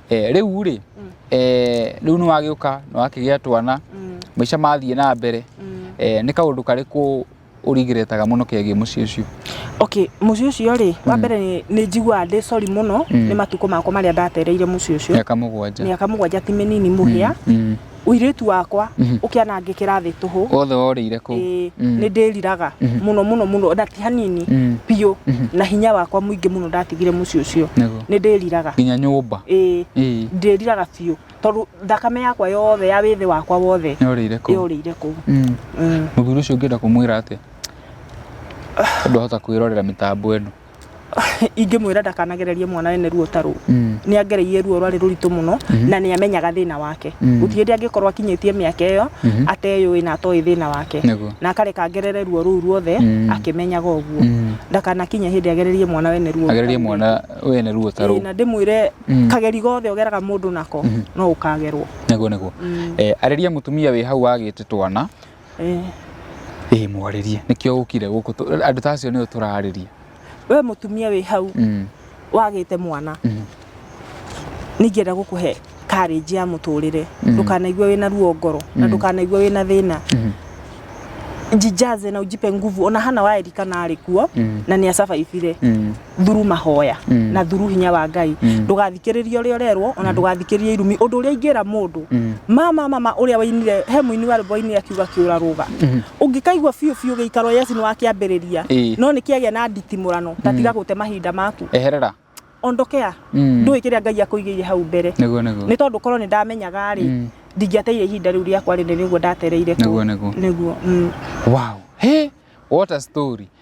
Eh, rĩu rĩ mm. eh, rĩu nĩ wagĩũka nĩ wakĩgĩa twana mm. maica mathiĩ na mbere mm. eh, nĩ kaũndũ karĩkũ ũrigiretaga muno kegiĩ muciĩ ucio okay muciĩ ucio ri wa mm. mbere ni ni njiguaga ndi sorry muno mm. ni matuko makwa maria ndatereire muciĩ ucio miaka mugwanja miaka mugwanja ti minini muhia mm. ũirĩtu wakwa mhm. ũkĩanangĩkĩra thĩ tũhũ wothe worĩire kũ mm. nĩ ndĩriraga mhm. mũno mũno mũno na ti hanini mm. biũ mhm. na hinya wakwa mũingĩ mũno ndatigire mũciĩ ũcio nĩ ndĩriraga nginya nyũmba ndĩriraga biũ tondũ thakame yakwa yothe ya wĩthĩ wakwa wothe yorĩire kũ mm. mũthuri ũcio ũngĩenda kũmwĩra atĩa andũ ahota kwĩrorera mĩtambo ĩno ingĩmwĩra ndakanagererie mwana ene ruo ta rũu mm. nĩ angereirie ruo rwarĩ rũritũ mũno mm-hmm. na nĩ amenyaga thĩna wake mm. gũtirĩ hĩndĩ angĩkorwo akinyĩtie mĩaka ĩyo mm-hmm. ateyũĩ na atoĩ thĩna wake na akareka ngerere ruo rũu ruothe mm. akĩmenyaga ũguo mm. ndakanakinye hĩndĩ agererie mwana wene ruo agererie mwana wene ruo ta rũu na ndĩmwĩre kageri gothe ũgeraga mũndũ nako mm-hmm. no ũkagerwo nĩguo nĩguo eh, arĩria mũtumia wĩ hau wagĩte twana Ĩĩ mwarĩrie, nĩkĩo ũkire gũkũ, andũ ta acio nĩo tũrarĩria. We mũtumia wĩ hau mm. wagĩte mwana mm. nĩingĩenda gũkũhe karĩnji ya mũtũrĩre mm. ndũkanaigua wĩna ruo ngoro na mm. ndũkanaigua wĩna thĩna mm. jijaze na ujipe nguvu ona hana waerikana arĩ kuo mm. na nĩ acabaibire mm. thuru mahoya mm. na thuru hinya wa ngai mm. ndũgathikĩrĩrie ũrĩa ũrerwo ona mm. ndũgathikĩrĩrie irumi ũndũ ũrĩa ingĩra mũndũ mm. mama mama ũrĩa wainire he mũini wa rwĩmbo wainire akiuga kĩũra rũga mm. ũngĩkaigua biũ biũ gĩikaro yesu nĩ wakĩambĩrĩria no nĩ kĩagĩa na nditimũrano ta tiga gũte mahinda maku eherera ondokea mm. ndũĩ kĩrĩa ngai akũigĩire hau mbere nĩ tondũ korwo nĩ ndamenyaga rĩ mm. ndingĩateire ihinda rĩu rĩakwa rĩnene nĩguo ndatereire nĩguo nĩguo mm. wow hey, what a story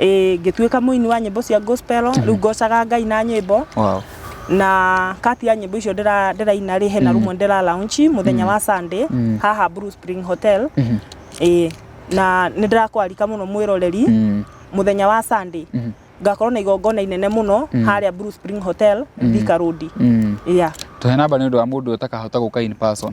ĩĩ ngĩtuĩka mũini wa nyĩmbo cia gospel rĩu ngocaga ngai na nyĩmbo wow. na kati ya nyĩmbo icio ndĩra- ndĩraina rĩ hena rũmwe ndĩra launch mũthenya wa sunday haha blue spring hotel ĩĩ na nĩ ndĩrakwarika mũno mwĩroreri Mm. mũthenya wa sunday ngakorwo na igongona inene mũno harĩa blue spring hotel thika road Mm. yeah tũhe namba nĩ ũndũ wa mũndũ ũtakahota gũka in person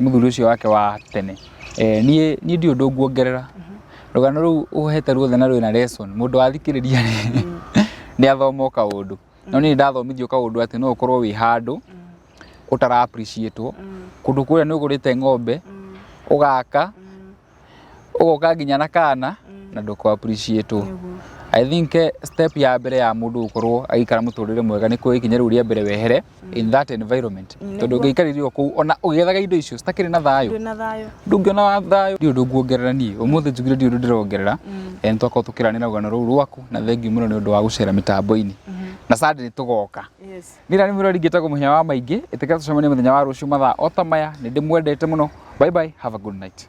mũthuri ũcio wake wa tene eh, niĩ niĩ ndiũ ũndũ nguongerera rũgano rũu ũhete ruothe na rwĩna lesson mũndũ wathikĩrĩria rĩ nĩ athoma o kaũndũ no niĩ ndathomithio kaũndũ atĩ no ũkorwo wĩ handũ ũtara appreciate kũndũ kũrĩa nĩ ũgũrĩte ng'ombe ũgaka ũgoka nginya na kana mm. na ndũko appreciate mm. I think eh, step ya mbere ya mundu gukorwo agikara muturire mwega ni kuya ikinya riu ria mbere wehere mm. in that environment mm, tondu ngiikaririo kuu ona ugethaga indo icio citakiri na thayo ndungiona thayo ndi undu nguongerera nie umuthi njugire ndi undu ndirongerera en twakorwo tukiranira rugano ruu rwaku na thengiu muno ni undu wa gucera mitambo-ini mm-hmm. na sande ni tugoka ni rani murori ngitagwo muhinya wa maingi itika tucemanie muthenya wa ruciu mathaa o ta maya ni ndimwendete muno bye bye have a good night